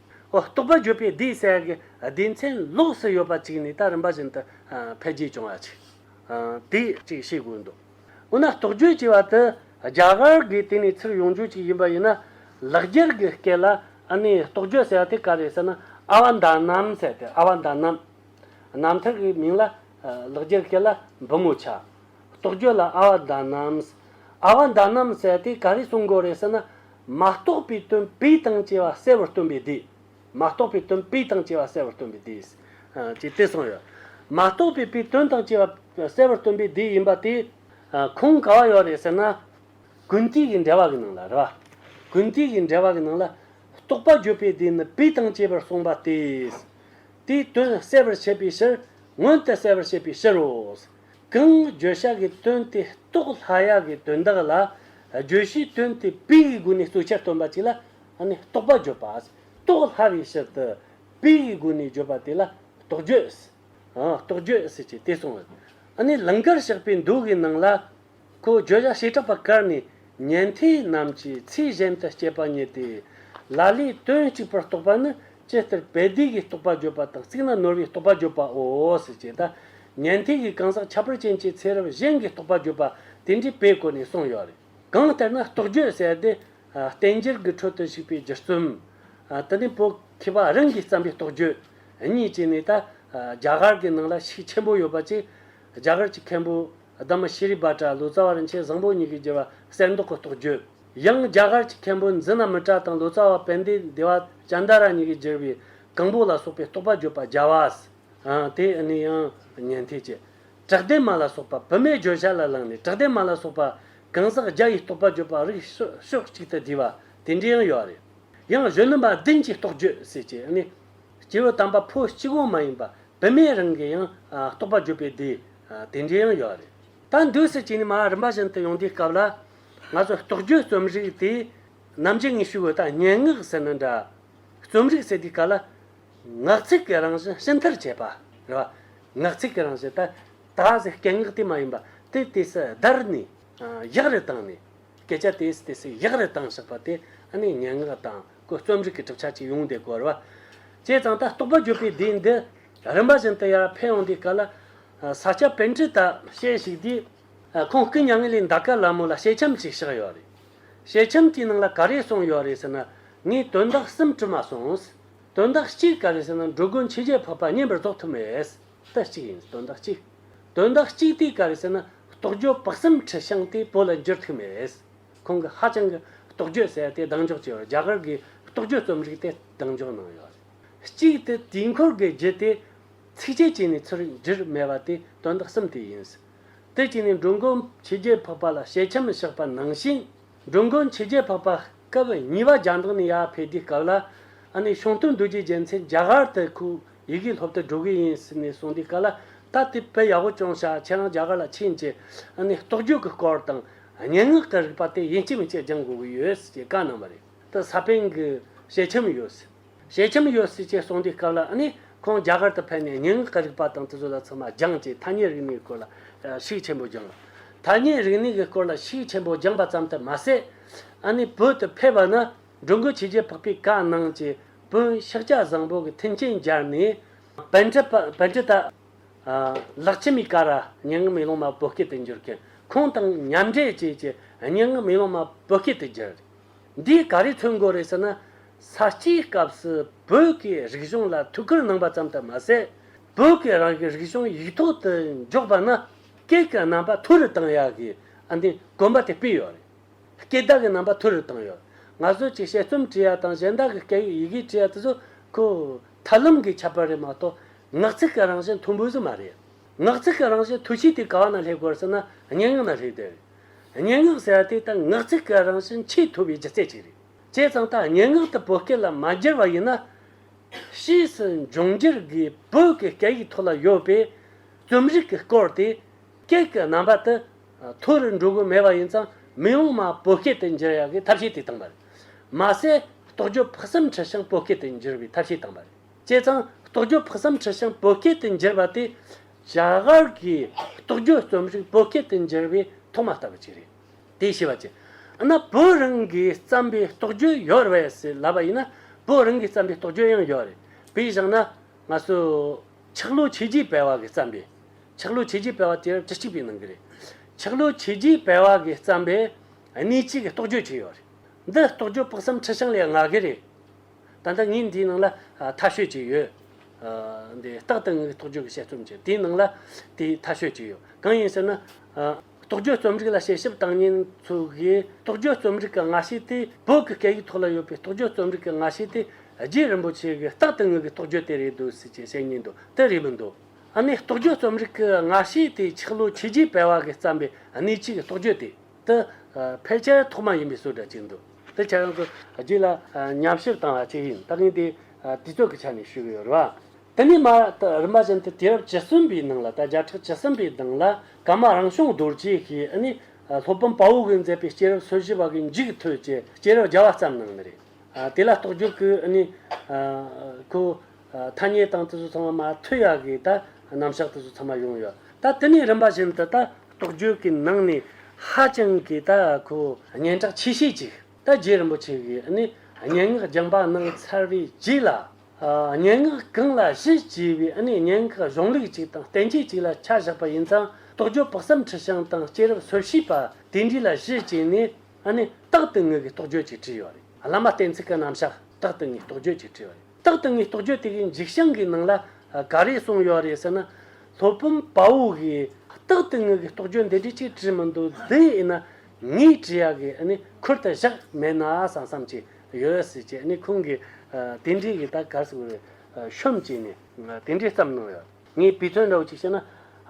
རྟོགས་པ་བརྗོད་པའི་སྡེའི་སའི་སྡེ་མཚན་ལོགས་སུ་ཡོད་པ་གཅིག་ནི་ད་རིམ་པ་བཞིན་དུ་འཕེལ་རྒྱས་བྱུང་བ་ཆེ་སྟེ། ཅེས་ཤེས་དགོས་འདུག་འོ་ན་རྟོགས་བརྗོད་ཅེས་པ་དེ་རྒྱ་གར་གྱི་དེ་ནས་ཚུར་ཡོང་རྒྱུ་ཅིག་ཡིན་པ་ཡིན་ན། ལག་འཁྱེར་གྱི་སྐད་ལ་ཨ་ནི་རྟོགས་བརྗོད་ཟེར་བ་དེ་ག་རེད་ཟེར་ན་ཨ་བ་མདའ་ནམ་ཟེར་ཏེ་ཨ་བ་མདའ་ནམ། ནམ་ཐིག་གི་མིང་ལ་ལག་འཁྱེར་སྐད་ལ་འབུམ་མོ་ཆ། རྟོགས་བརྗོད་ལ་ཨ་བ་མདའ་ནམ། ཨ་བ་མདའ་ནམ་ཟེར་དེ་ག་རེ་གསུང་དགོས་རེད་ཟེར་ན། མ་རྟོགས་པའི་དོན་དཔེའི་དང་བཅས་པ་གསལ་བར་སྟོན་པའི་སྡེ། མ་རྟོགས་པའི་དོན་དཔེའི་དང་བཅས་པ་གསལ་བར་སྟོན་པའི་སྡེ། ཅེས་དེ་གསུངས་ཡོད། མ་རྟོགས་པའི་དཔེའི་དོན་དང་བཅས་པ་གསལ་བར་སྟོན་པའི་སྡེ་ཡིན་པ་དེ། ཁུངས་ག་བ་ཡོད་རེད་ཟེར་ན། གུན་གཏིག་གི་འགྲེལ་བ་གི་ནང་ལ་རེད་པ། གུན་གཏིག་གི་འགྲེལ་བ་གི་ནང་ལ། རྟོགས་པ་བརྗོད་པའི་སྡེ་ནི་དཔེ་དང་བཅས་པར་གསུངས་པ་དེ། དེའི་དོན་གསལ་བར་བྱེད་པའི་ཕྱིར། མངོན་དུ་གསལ་བར་བྱེད་པའི་ཕྱིར་རོ། གང་བརྗོད་བྱ་གི་དོན་དེ་རྟོགས་ལྷ་ཡག་གི་དོན་དག་ལ། བརྗོད་བྱའི་དོན་དེ་དཔེ་ཡི་སྒོ་ནས་གཙོ་ཆེར་སྟོན་པ་ཅིག་ལ། རྟོགས་པ་བརྗོད་པ། རྟོགས་ལྷ་བའི་ཕྱིར་དུ། དཔེ་ཡི་སྒོ་ནས་བརྗོད་པ་དེ་ལ། རྟོགས་བརྗོད། རྟོགས་བརྗོད་ཅེས་དེ་གསུངས། ལིང་གར་ཞགས་པའི་མདོ་གི་ནང་ལ། ཁོས་བརྗོད་བྱ་བྱེ་བྲག་པ་བཀར་ནས་ཉན་ཐོས་རྣམས་ཀྱི་ཚིག་གཞན་དུ་སྐྱེས་པ་རྙེད་དེ། ལ་ལས་དོན་གཅིག་པར་རྟོགས་པ་ནི་ཅི་ལྟར་དཔལ་སྡེ་དགེའི་རྟོགས་པ་བརྗོད་པ་དང་གཅིག་ན་ནོར་བུའི་རྟོགས་པ་བརྗོད་པའོ། ཅེས་དང། ཉན་ཐོས་ཀྱི་གང་ཟག་ཁྱད་པར་ཅན་གྱི་ཚེ་རབས་གཞན་གྱི་རྟོགས་པ་བརྗོད་པ་དེ་འདྲའི་དཔེ་བཀོད་ནས་གསུངས་ཡོད་རེད། གང་ལྟར་ན་རྟོགས་བརྗོད་གསལ་ཏེ། བསྟན་འགྱུར་གྱི་ཁྲོད་དུ་ཞུགས་པའི་སྒྱུ་རྩོམ། དེ་ནི་བོད་མཁས་པ་རང་གིས་བརྩམས་པའི་རྟོགས་བརྗོད་གཉིས་བཅས་ནི་ད་རྒྱ་གར་གྱི་ནང་ལ་ཤུགས་ཆེན་པོ་ཡོད་པ་བཅས་རྒྱ་གར་གྱི་མཁན་པོ། སྡེ་མི་ཤེས་རིག་བ་གྲྭ་ལོ་ཙཱ་བ་རིན་ཆེན་བཟང་པོ་གཉིས་ཀྱིས་བསྒྱུར་བ་གསེར་མདོག་གི་རྟོགས་བརྗོད། ཡང་རྒྱ་གར་གྱི་མཁན་པོ་འཛི་ན་མི་ཏྲ་དང་ལོ་ཙཱ་བ་བན་དེ་སྡེ་བ་ཅནྡ་ར་གཉིས་ཀྱིས་བསྒྱུར་བའི་གང་པོ་ལ་སོགས་པའི་རྟོགས་པ་བརྗོད་པ་རྒྱ་བ་སྟེ་ནི་ཡང་ཉན་ཐོས་ཀྱི་བྲག་སྡེ་མ་ལ་སོགས་པ་བི་མའི་བརྗོད་བྱ་ལ་བླངས་ནས་བྲག་སྡེ་མ་ལ་སོགས་པ་གང་ཟག་བརྒྱ་ཡི་རྟོགས་པ་བརྗོད་པ་རིགས་ཕྱོགས་གཅིག་ཏུ་བསྡུས་པ་དེ་འདྲའི་ཡང་ཡོད་རེད། ཡང་གཞོན་ནུ་མ་བདུན་གྱི་རྟོགས་བརྗོད་ཟེར་གྱི་ནི། སྐྱེས་བུ་དམ་པ་ཕོ་གཅིག་དབང་མ་ཡིན་པ་བི་མས་རང་གི་ཡང་རྟོགས་པ་བརྗོད་པའི་སྡེའི། དེ་འདྲའི་ཡང་ཡོད་རེད། ད་འདོད་སྲིད་ཅིག་ནི་མ་རིན་པ་བཞིན་དུ་ཡོང་དུས་སྐབས་ལ། ང་ཚོ་རྟོགས་བརྗོད་རྩོམ་རིག་དེ་ནམ་ཅི་ངེས་ཤུ་གི་དང་སྙན་ངག་ཟེར་ན་འདྲ། རྩོམ་རིག་ཟེར་དུས་ག་ལ། ངག་ཚིག་གི་རང་བཞིན་ཕྱི་མཐར་བྱས་པ་རེད་བ། ངག་ཚིག་གི་རང་བཞིན་ད་ད་ཟེར་སྐད་ངག་དེ་མ་ཡིན་པ་དེ་དེ་སྲིད་བརྡར་ནས་གཞག་རེ་བཏང་ནས། སྐད་ཆ་དེ་སྲིད་དེ་སྲིད་གཞག་རེ་བཏང་བཞག་པ་དེ་ཨ་ནི་སྙན་ངག་དང་གོ་རྩོམ་རིག་གི་གྲུབ་ཆ་གཅིག་ཡོང་བསྡད་དགོས་རེད་བ། བྱས་ཙང་ད་རྟོགས་པ་བརྗོད་པའི་སྡེ་འདི། རིམ་པ་བཞིན་དུ་ཡར་འཕེལ་ཡོང་དུས་ག་ལ། ས་སྐྱ་དཔེ་འཕྲིན་དག་བཤད་ཞིག་དུས། ཁོང་སྐུ་མྱ་ངན་ལས་འདའ་སྐབས་ལ་མོ་ལ་ཞལ་ཁྱམས་ཅིག་བཞག་ཡོད་རེད། ཞལ་ཁྱམས་དེའི་ནང་ལ་ག་རེ་གསུངས་ཡོད་རེད་ཟེར་ན། ངས་དོན་དག་གསུམ་བྲིས་མ་སོང། དོན་དག་གཅིག་ག་རེ་ཟེར་ན་འགྲོ་ཀུན་ཕྱི་རྒྱལ་ཕོག་པ་བརྙན་པར་བཟློག་ཐུབ་མེད། དེ་གཅིག་ཡིན་དོན་དག་གཅིག། དོན་དག་གཅིག་དུས་ག་རེ་ཟེར་ན་རྟོགས་བརྗོད་དཔག་བསམ་ཁྲི་བྱང་དེ་བོད་ལ་འགྱུར་ཐུབ་མེད། ཁོང་གིས་ཧ་ཅང་གི་རྟོགས་བརྗོད་གསལ་ཏེ་གདེང་འཇོག་བྱས་ཡོད་རྒྱ་གར་གྱི་རྟོགས་བརྗོད་རྩོམ་རིག་དེ་གདེང་འཇོག་གནང་ཡོད་རེད། གཅིག་སྟེ་དུས་འཁོར་འགའི་རྒྱུ་དེ། ཚིགས་བཅད་ཅིག་ནས་ཚུར་བསྒྱུར་མེད་པ་དེ་དོན་དག་གསུམ་དེ་ཡིན། དེ་གཅིག་ནི་འགྲོ་མགོན་ཕྱི་རྒྱལ་འཕགས་པ་ལ་ཞལ་ཆེམས་བཞག་པ་ནང་བཞིན། འགྲོ་མགོན་ཕྱི་རྒྱལ་འཕགས་པ་སྐབས་གཉིས་པ་རྒྱ་ནག་ནས་ཡར་ཕེབས་དུས་སྐབས་ལ། ཨ་ནེ་ཤོང་སྟོན་རྡོ་རྗེ་རྒྱལ་མཚན་རྒྱ་གར་དུ་ཁོའི་ཡི་གེ་སློབ་དུ་འགྲོ་གི་ཡིན་ཟེར་ནས་གསུངས་དུས་སྐབས་ལ། ད་དེ་དཔེ་ཡག་པོ་ཅུང་ཤར་ཁྱེད་རང་རྒྱ་གར་ལ་ཕྱིན་རྗེས་ཨ་ནེ་རྟོགས་བརྗོད་ཀྱི་སྐོར་དང། སྙན་ངག་གི་རིགས་པ་དེ་ཡིན་གཅིག་མིན་གཅིག་སྦྱང་དགོས་ཀྱི་ཡོད་ཟེར་གྱི་བཀའ་གནང་བ་རེད། དེ་ས་པན་གྱི་ཞལ་ཆེམས་ཡོད་ཟེར། ཞེ་ཁྱམས་ཡོད་སྲིད་ཅེས་གསུངས་དུས་སྐབས་ལ་ནི་ཁོང་རྒྱ་གར་དུ་ཕེབས་ནས་ཉིན་འགའ་རིག་པ་དང་དུས་ཚོད་ལ་ཚོད་མ་སྦྱངས་ཀྱིས་ཐ་སྙད་རིག་གནས་སྐོར་ལ་ཤུགས་ཆེན་པོ་སྦྱངས། ཐ་སྙད་རིག་གནས་ཀྱི་སྐོར་ལ་ཤུགས་ཆེན་པོ་སྦྱངས་པ་ཙམ་དུ་མ་ཟད། ཨ་ནི་བོད་དུ་ཕེབས་པ་ན་འགྲོ་འགུལ་བྱས་རྗེས་འཕགས་པའི་བཀའ་གནང་གྱིས་བོན་ཤག་སྐྱ་བཟང་པོ་གི་མཐུན་རྐྱེན་སྦྱར་ནས། བན་ཁྲི་བན་ཁྲི་དང། ལག་ཁྱི་མི་ཀ་ར་སྙན་ངག་མེ་ལོང་མ་བོད་སྐད་དུ་འགྱུར་མཁན་ཁོང་དང་མཉམ་འབྲེལ་བྱས་ཀྱིས་སྙན་ངག་མེ་ལོང་མ་བོད་སྐད་དུ་བསྒྱུར། འདིས་ག་རེ་ཐོན་དགོས་རེད་ཟེར་ན། ས་སྐྱའི་སྐབས་སུ་བོད་ཀྱི་རིག་གཞུང་ལ་ཐུགས་ཁུར་གནང་པ་ཙམ་དུ་མ་ཟད། བོད་ཀྱི་རང་གི་རིག་གཞུང་ཡིག་ཐོག་ཏུ་འཇོག་པ་ན་སྐད་ཀྱི་རྣམ་པ་ཐུར་རུ་བཏང་ཡག་གི་ཨ་འདི་དགོན་པ་དེ་སྤུས་ཡོད་རེད། སྐད་བརྡ་གི་རྣམ་པ་ཐུར་རུ་བཏང་ཡོད། ང་ཚོས་ཀྱི་དཔྱད་རྩོམ་བྲིས་ཡག་དང་གཞན་དག་གི་སྐད་ཡིག་ཡི་གེ་བྲིས་ཡག་དེ་ཚོ་ཁོ། ཐབས་ལམ་གྱི་ཁྱད་པར་རེད་མ་གཏོགས་ངག་ཚིག་གི་རང་བཞིན་མཐོ་འབུལ་སུ་མ་རེད། ངག་ཚིག་གི་རང་བཞིན་མཐོ་ཤོས་དེ་ག་ན་སླེབས་དགོས་རེད་ཟེར་ན་སྙན་ངག་ན་སླེབས་བསྡད་རེད། སྙན་ངག་ཟེར་བ་དེ་ད་ངག་ཚིག་གི་རང་བཞིན་ཆེས་མཐོ་བའི་སྒྱུ་རྩལ་ཅིག་རེད། བྱས་ཙང་ད་སྙན་ངག་ཏུ་བོད་སྐད་ལ་མ་བསྒྱུར་བ་ཡིན་ན། ཕྱིས་སུ་འབྱུང་འགྱུར་དགུའི་བོད་ཀྱི་སྐད་ཡིག་ཐོག་ལ་ཡོད་པའི་རྩོམ་རིག་གི་སྐོར་དེ་སྐད་ཀྱི་རྣམ་པ་དུ་མཐོ་རུ་འགྲོ་གི་མེད་པ་ཡིན་ཙང་མི་ཡོང་མ་བོད་སྐད་དུ་འགྱུར་ཡག་གི་ཐབས་ཤེས་དེ་བཏང་པ་རེད། མ་ཟད་རྟོགས་བརྗོད་ཕུགས་བསམ་ཁྲི་བྱང་བོད་སྐད་དུ་འགྱུར་བའི་ཐབས་ཤེས་བཏང་པ་རེད། བྱས་ཙང་རྟོགས་བརྗོད་ཕུགས་བསམ་ཁྲི་བྱང་བོད་སྐད་དུ་འགྱུར་བ་དེ་བྱ་གར་གྱི་རྟོགས་བརྗོད་རྩོམ་རིག་བོད་སྐད་དུ་འགྱུར་བའི་ཐོག་མ་ལྟ་བུ་ཅིག་རེད། དེའི་ཤེས་པ་ཅི། ན་བོད་རང་གིས་བརྩམས་པའི་རྟོགས་བརྗོད་ཡོད་རེད་ཟེར་ལབ་པ་ཡིན་ན་བོད་རང་གིས་བརྩམས་པའི་རྟོགས་བརྗོད་ཡང་ཡོད་རེད། བོད་ཡིག་བཞག་ན། ང་ཚོ། ཆག་ལོ་ཆོས་རྗེ་སྤེལ་བ་གིས་བརྩམས་པའི། ཆག་ལོ་ཆོས་རྗེ་སྤེལ་བ་དེར་གྲི་གཅིག་པའི་ནང་གི་རེད། ཆག་ལོ་ཆོས་རྗེ་སྤེལ་བ་གིས་བརྩམས་པའི། གནས་གཅིག་གི་རྟོགས་བརྗོད་ཅིག་ཡོད་རེད། འདི་རྟོགས་བརྗོད་དཔག་བསམ་ཁྲི་བྱང་ལས་མངའ་གི་རེད། ད་ལྟ་ངས་འདིའི་ནང་ལ་མཐའ་ཤོད་ཅིག་ཡོད། འདི་རྟག་ཏུ་ངའི་རྟོགས་བརྗོད་ཀྱི་དཔྱད་རྩོམ་ཅིག་དེའི་ནང་ལ་དེའི་མཐའ་ཤོད་ཅིག་ཡོད། གང་ཡིན་ཟེར་ན། རྟོགས་བརྗོད་རྩོམ་རིག་ལ་དཔྱད་ཞིབ་བཏང་ཉིན་ཚོས་དགེའི་རྟོགས་བརྗོད་རྩོམ་རིག་གི་ང་ཤེས་དེ་བོད་ཀྱི་སྐད་ཡིག་ཐོག་ལ་ཡོད་པའི་རྟོགས་བརྗོད་རྩོམ་རིག་གི་ང་ཤེས་དེ་རྗེ་རིན་པོ་ཆེ་གིས་རྟག་ཏུ་ངའི་རྟོགས་བརྗོད་དེ་རེད་འདོད་སྲིད་ཅེས་བཤད་ཉིན་འདོད་དེ་རེད་མི་འདོད། ཨ་ནེ་རྟོགས་བརྗོད་རྩོམ་རིག་གི་ང་ཤེས་དེ་ཆག་ལོ་ཆེ་རྗེ་དཔལ་བ་གིས་བརྩམས་པའི་གནས་གཅིག་གི་རྟོགས་བརྗོད་དེ། དེ་ཕལ་ཆེར་ཐོག་མ་ཡིན་པའི་སྲོལ་འདྲ་གཅིག་འདུག་དེ་ཆ་ཡང་དུ་རྒྱུད་ལ་ཉམས་ཞིབ་བཏང་བ་གཅིག་ཡིན་ལྟ་གིན་དེ་དུས་ཚོད་ཀྱི་ཆ་ནས་ཞུས་ཡོད་རེད། དེ་ནས་མ་རིན་པ་ཅན་དེ་དུས་རབས་བཅུ་གསུམ་པའི་ནང་ལ་ད་བརྒྱ་ཕྲག་བཅུ་གསུམ་པའི་གདངས་ལ་ཀ་མ་རང་བྱུང་རྡོ་རྗེ་ཞེས་ཨ་ནི་ལྷོ་བུམ་དཔའ་བོ་གིས་མཛད་པའི་སྐྱེས་རབས་སོ་བཞི་བ་གི་མཇུག་ཐོད་ཀྱི་སྐྱེས་རབས་བརྒྱ་བ་ཙམ་སྣང་ནི་རེད། དེ་ལ་རྟོགས་འཇུག་གིས་ཨ་ནི་ཁོ། ཐ་སྙད་སྟངས་དེ་ཚོ་ཚང་མ་མ་ཐོས་ཡ་གི་ད་རྣམ་གཞག་དེ་ཚོ་ཚང་མ་ཡོང་ཡོད་ད་དེ་ནས་རིམ་པ་བཞིན་དུ་ད་རྟོགས་བརྗོད་ཀྱི་ནང་ནས་ཧ་ཅང་གི་ད་ཁོ་སྙན་གྲགས་ཆེ་ཤོས་ཅིག་ད་རྗེ་རིན་པོ་ཆེ་གི་ནི་སྙན་ངག་སྦྱང་པ་གནང་ཚར་བའི་རྗེས་ལ། སྙན་ངག་གང་ལ་གཞི་བྱས་པའི་སྙན་ངག་གཞུང་ལུགས་ཅིག་དང་བསྟན་བཅོས་ཅིག་ལ་ཆ་བཞག་པ་ཡིན་ཙང་རྟོགས་བརྗོད་དཔག་བསམ་འཁྲི་ཤིང་དང་སྐྱེས་རབས་ཚོར་ཤེས་པ་དེ་འདྲའི་ལ་གཞི་བྱས་ནས་རྟག་ཏུ་ངེས་ཀྱི་རྟོགས་བརྗོད་ཅིག་བྲིས་ཡོད་རེད་བླ་མ་གཏན་ཚིགས་ཀྱི་རྣམ་གཞག་རྟག་ཏུ་ངེས་རྟོགས་བརྗོད་ཅིག་བྲིས་ཡོད་རེད། རྟག་ཏུ་ངའི་རྟོགས་བརྗོད་དེ་གའི་འཇིགས་བྱང་གི་ནང་ལ་ག་རེ་གསུངས་ཡོད་རེད་ཟེར་ན། ལྷོ་སྤུན་པའུ་གིས་རྟག་ཏུ་ངའི་རྟོགས་བརྗོད་འདི་འདྲི་ཅིག་བྲིས་མི་འདུག་འདི་ཡིན་ན་ངའི་བྲིས་ཡག་གི་ནི་ཁུར་དུ་བཞག་མེད་ན་བསམ་བསམ་ཅིག་ཡོད་སྲིད་ཅེས་ནི་ཁོང་གིས་དེ་འདྲི་གི་ད་གར་སོང་བའི་ཤོམ་ཅིག་ནས་དེ་འདྲི་བརྩམས་གནང་ཡོད། ངས་བུའི་དོན་འདྲ་བོ་ཅིག་བཤད་ན།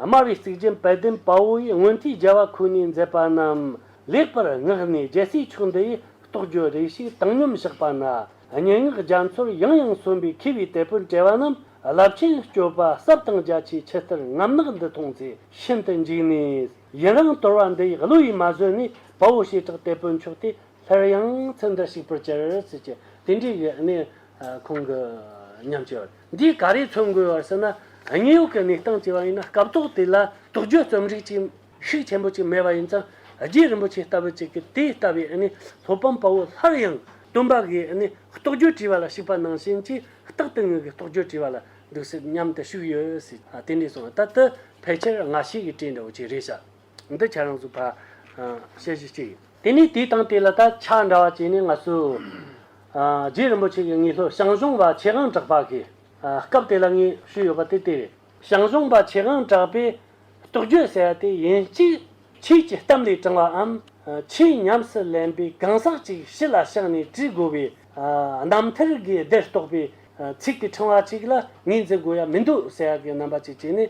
དམའ་བའི་གཙིགས་ཆེན་དཔལ་ལྡན་དཔའ་བོ་ཡིས་སྔོན་དུས་རྒྱལ་བ་ཁོ་ནའི་མཛད་པ་རྣམས་ལེགས་པར་བསྔགས་ནས་རྒྱལ་སྲས་ཕྱོགས་འདི་ཡི་རྟོགས་བརྗོད་རེ་ཞིག་བཏང་སྙོམས་བཞག་པ་ན། སྙན་ངག་རྒྱ་མཚོར་ཡང་ཡང་གསོན་པའི་མཁས་པའི་དད་པོ་འབྲེལ་བ་རྣམས་རླབས་ཆེན་སྐྱོད་པ་ཟབ་དང་རྒྱ་ཆེའི་ཆེ་བསྟར་རྔམ་ནག་འདི་མཐོང་ཚེ་ཤིན་ཏུ་འཇིགས་ནས། ཡི་རང་དོར་བ་འདི་ཡི་བློ་ཡིས་མ་བཟོད་ནས་དཔའ་བོ་བྱེ་བྲག་དད་པོའི་མཆོག་དེ་སླར་ཡང་ཚེ་འདིར་ཞིག་པར་བྱར་ཟེར་གྱི་དེ་འདྲའི་གནས་ཁང་གི་ཉམས་ཆེ་བར། འདིས་ག་རེ་མཚོན་དགོས་བར་ཟེར་ན་དངོས་ཡོད་ཀྱི་གནས་སྟངས་བྱས་པ་ཡིན་ན་སྐབས་ཐོག་དེ་ལ་དོགས་གཅོད་རྩོམ་རིག་ཅིག་ཤུགས་ཆེན་པོ་ཅིག་མེད་པ་ཡིན་ཙང་རྗེ་རིན་པོ་ཆེ་ལྟ་བུ་ཅིག་གིས་དེ་ལྟ་བུའི་སློབ་དཔོན་དཔའ་བོ་སླར་ཡང་སྟོན་པ་གིས་རྟོགས་བརྗོད་བྲིས་པ་ལ་ཞིག་པ་ནང་བཞིན་གྱིས་རྟག་ཏུ་ངོས་ཀྱི་རྟོགས་བརྗོད་བྲིས་པ་ལ་འདུག་སྲིད་སྙམ་དུ་ཞུགས་ཡོད་སྲིད་དེ་འདྲའི་གསུང་བ་ལྟ་དུ་ཕལ་ཆེར་སྔ་ཕྱི་ཀྱི་བཀྲིས་འདྲ་བོ་ཅིག་རེད་བྱ། འདི་བྱ་རང་གཟུགས་བར། ཞེས་བཞི་སྤྱི་ཡིན། དེ་ནས་དེའི་སྟེང་དེ་ལ་ད་ཆ་འདྲ་བ་བཅས་ནི་ལྔ་སོ། རྗེ་རིན་པོ་ཆེ་གིས་ངེས་ལྷོད་ཞང་ཞུང་པ་ཆེ་ཧང་གྲགས་པ་གི་སྐབས་དེ་ལ་ངེས་ཞུས་ཡོད་པ་དེ་ལྟེ་བའི་ཞང་ཞུང་པ་ཆེ་ཧང་གྲགས་པས་རྟོགས་བརྗོད་ཟེར་བ་དེ་ཡིན་གཅིག་ཁྱེད་ཀྱི་གཏམ་ལས་དྲང་བའམ་ཆེས་ཉམས་སུ་ལེན་པའི་གང་ཟག་ཅིག་ཕྱི་ལ་བཤགས་ནས་བྲིས་དགོས་པའི་རྣམ་ཐར་དགེ་སྡེར་གཏོགས་པའི་ཚིག་གི་ཕྲེང་བ་ཅིག་ལ་ངེས་འཛིན་དགོས་ཡ་མི་འདུག་ཟེར་བ་གི་རྣམ་པ་ཅིག་བྱས་ནས།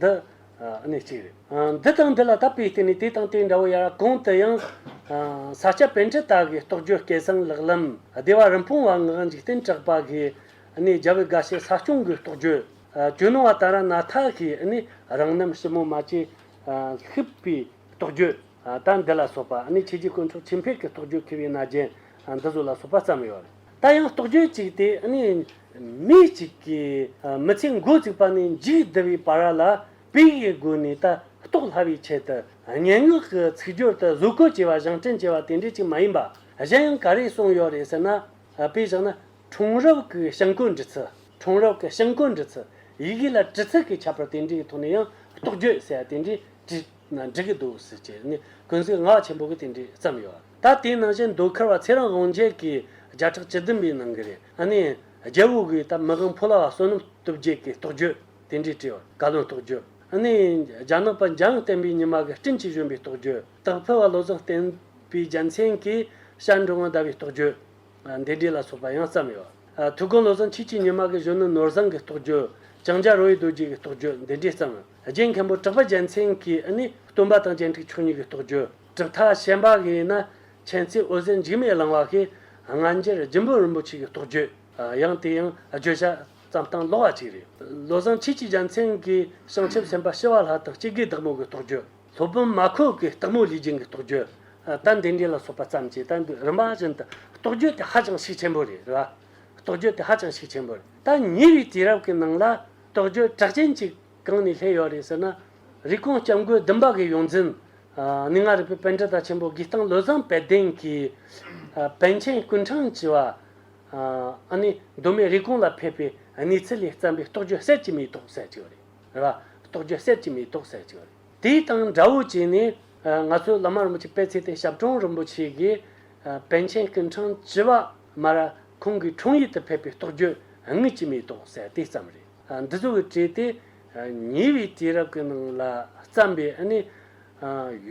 འདི་ནི་གཅིག་རེད། འདི་དང་འདི་ལ་དག་པའི་རྟེན་ནི་དེ་དང་དེ་འདྲ་བོ་ཡ་རབས་གང་དུ་ཡང། ས་སྐྱ་དཔེ་འབྲི་དག་གིས་རྟོགས་བརྗོད་སྐལ་བཟང་ལག་ལམ་བདེ་བ་རིན་སྤུངས་བ་ངག་འཇིག་རྟེན་གྲགས་པ་གིས་ནི་རྒྱལ་བའི་དགའ་བྱེད་ས་སྐྱོང་གི་རྟོགས་བརྗོད། གྱོད་ནོར་བ་དང་ར་ན་ཐ་གིས་ནི་རང་རྣམ་ཞིབ་མོ་མ་བྱས། ཤིག་པའི་རྟོགས་བརྗོད་དང་འདི་ལ་སོགས་པ་ནི་ཆོས་རྗེ་དཀོན་མཆོག་ཆོས་འཕེལ་གྱི་རྟོགས་བརྗོད་མཁས་པའི་རྣ་རྒྱན་འདི་བཟོ་ལ་སོགས་པ་བརྩམས་ཡོད། ད་ཡང་རྟོག་དཔྱོད་ཅིག་དེ་ནི་མི་གཅིག་གིས་མི་ཚེ་མགོ་བཙུགས་པ་ནས་མཇུག་བསྡུ་བའི་བར་ལ་བོད་ཡིག་གི་སྒོ་ནས་ལྟ་རྟོག་སླ་བའི་ཆེད་དུ་སྙན་ངག་གི་ཚིག་སྦྱོར་དུ་བཟོ་བཀོད་བྱས་པ་བཞེངས་སྐྲུན་བྱས་པ་དེ་འདྲས་ཅིག་མ་ཡིན་པ་གཞན་ཡང་ག་རེ་གསུངས་ཡོད་རེད་ཟེར་ན། དཔེ་བཞག་ན་གྲོང་རབས་ཀྱི་བྱང་བཀོད་འབྲི་ཚུལ་གྲོང་རབས་ཀྱི་བྱང་བཀོད་འབྲི་ཚུལ་ཡི་གེ་ལ་བྲི་ཚུལ་གྱི་ཁྱད་པར་དེ་འདྲའི་ཐོག་ནས་ཡང་རྟོག་དཔྱོད་ཟེར་བ་དེ་འདྲས་བྲིས། ན་འགྲིག་གི་འདུག་ཟེར་གྱི་ནི་ཀུན་གཟིགས་ངག་ཆེན་པོ་གི་དེ་འདྲས་བརྩམས་ཡོད་ད་དེའི་ནང་བཞིན་མདོ་ཁར་བ་ཚེ་རང་དབང་རྒྱལ་གྱིས་བརྒྱ་ཕྲག་བཅུ་བདུན་པའི་ནང་གི་རེ་ཨ་ནི་རྒྱལ་བོ་གིས་ད་མི་གང་ཕོ་ལ་བ་བསོད་ནམས་སྟོབས་རྒྱལ་གྱི་རྟོགས་བརྗོད་དེ་འདྲས་བྲིས་བར་བཀའ་བློན་རྟོགས་བརྗོད་ཨ་ནི་རྒྱ་ནག་པ་འཇང་བསྟན་པའི་ཉི་མ་གི་སྤྲིན་གྱི་བཞོན་པའི་རྟོགས་བརྗོད་དག་ཕུལ་བ་བློ་བཟང་བསྟན་པའི་རྒྱལ་མཚན་གྱི་ཞལ་འདྲོ་ངང་བཟླ་བའི་རྟོགས་བརྗོད་འདི་འདྲས་ལ་སོགས་པ་ཡང་བརྩམས་ཡོད་ཐུགས་དགོངས་བློ་བཟང་ཁྱེད་ཀྱི་ཉི་མ་གི་བཞོན་ནུ་ནོར་བཟང་གི་རྟོགས་བརྗོད་ལྕང་སྐྱ་རོ་ཡི་རྡོ་རྗེ་གི་རྟོགས་བརྗོད་འདི་འདྲས་བརྩམས། རྗེ་མཁན་པོ་གྲགས་པ་རྒྱལ་མཚན་གྱིས་ནི་སྟོན་པ་དང་སྤྱན་འཁྲིགས་ཆོས་ཉིད་ཀྱི་རྟོགས་བརྗོད་གྲུབ་མཐའ་བཤད་པ་གྱིས་ན་མཁྱེན་བརྩེ་འོད་ཟེར་འཇིགས་མེད་བླང་བ་གྱིས་སྔ་འགྱུར་རྒྱུན་བོན་རིན་པོ་ཆེ་ཀྱི་རྟོགས་བརྗོད་ཡང་དེ་ཡང་བརྗོད་བྱ་ཙམ་སྟངས་ལོག་བ་ཅིག་རེད། བློ་བཟང་ཁྱེད་ཀྱིས་རྒྱལ་མཚན་གྱི་བྱང་ཆུབ་སེམས་དཔའ་ཤེར་བ་ལྷ་དང་སྤྱི་དགེའི་བདག་མོ་གི་རྟོགས་བརྗོད་སློབ་དཔོན་མ་ཁོལ་གྱི་སྟག་མོ་ལུས་སྦྱིན་གྱི་རྟོགས་བརྗོད་དང་དེ་འདྲ་ལ་སོགས་པ་ཙམ་གྱིས་ད་འདི་རིམ་པ་བཞིན་དུ་རྟོགས་བརྗོད་དེ་ཧ་ཅང་ཤུགས་ཆེན་པོ་རེད་རེད་པ། རྟོགས་བརྗོད་དེ་ཧ་ཅང་ཤུགས་ཆེན་པོ་རེད། ད་ཉེ་བའི་དུས་རབས་ཀྱི་ནང་ལ། དྲག་སྤྱོད་གྲགས་ཅན་ཅིག་གང་ནས་སླེབས་ཡོད་རེད་ཟེར་ན། རིགས་གོང་སྐྱབས་མགོན་བདུན་པ་གི་ཡོངས་འཛིན། ནི་ང་རིག་པའི་དཔལ་དྲི་དང་ཆེན་པོ་གིས་སྟངས་བློས་བཟང་དཔལ་ལྡན་གྱི། བན་ཆེན་ཀུན་དྲང་བྱེ་བ། ཨ་ནི་གདོད་མའི་རིགས་གོང་ལ་ཕེབས་པའི་གནས་ཚུལ་ལས་བརྩམས་པའི་རྟོགས་བརྗོད་གསེར་གྱི་མེ་ཏོག་ཟེར་གྱི་ཡོད་རེད། རྟོགས་བརྗོད་གསེར་གྱི་མེ་ཏོག་ཟེར་གྱི་ཡོད་རེད། དེའི་སྟངས་འདྲ་བོ་བྱས་ནས། ང་ཚོའི་བླ་མ་རིན་པོ་ཆེ་པད་ཚེ་བརྟན་ཞབས་དྲུང་རིན་པོ་ཆེ་གིས། བན་ཆེན་ཀུན་དྲང་བྱེ་བ་མར། ཁོང་གིས་འཕྲོང་ཡུལ་དུ་ཕེབས་པའི་རྟོགས་བརྗོད་དངོས་ཀྱི་མེ་ཏོག་གསལ་དེ་ཙམ་རེད། འདི་ཚོ་གི་གྲས་དེ་ཉེ་བའི་དུས་རབས་ཀྱི་ནང་ལ་བརྩམས་པའི་ནི།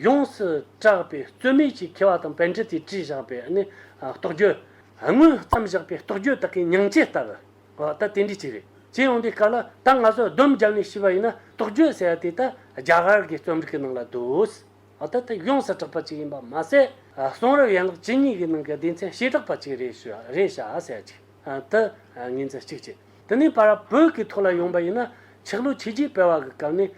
ཡོངས་སུ་གྲགས་པའི་རྩོད་མེད་ཀྱི་མཁས་བ་དང་བན་ཁྲི་དེས་བྲིས་བཞག་པའི་ནི་རྟོགས་བརྗོད། སྔོན་བརྩམས་བཞག་པའི་རྟོགས་བརྗོད་དག་གི་མྱང་བྱེད་ལྟར་ཨོ་ད་དེ་འདྲའི་ཅིག་རེད། ཅེས་ཡོང་དུས་ག་ལ་ད་ང་ཚོ་བསྡོམས་བརྒྱབ་ནས་ཤི་བ་ཡིན་ན་རྟོགས་བརྗོད་ཟེར་བ་དེ་ད་རྒྱ་གར་གྱི་རྩོམ་རིག་གི་ནང་ལ་འདུག། ཨ་ཐ་ཐི་ཡོངས་སུ་གྲགས་པ་ཅིག་ཡིན་པ་མ་ཟད། གསུང་རབ་ཡན་ལག་ཇི་སྙེད་ཀྱི་ནང་གི་སྡེ་ཚན་བྱེ་བྲག་པ་ཅིག་རེད་ཞུ་རེད་བྱ་བྱེད་ཅིག་དུ་ངེས་འཛིན་ཅིག་བྱེད། དེ་ནས་པར་བོད་ཀྱི་ཐོག་ལ་ཡོང་པ་ཡིན་ན་ཆག་ལུགས་ཆིག་རྗེས་སྤེལ་བ་གི་སྐབས་ནས་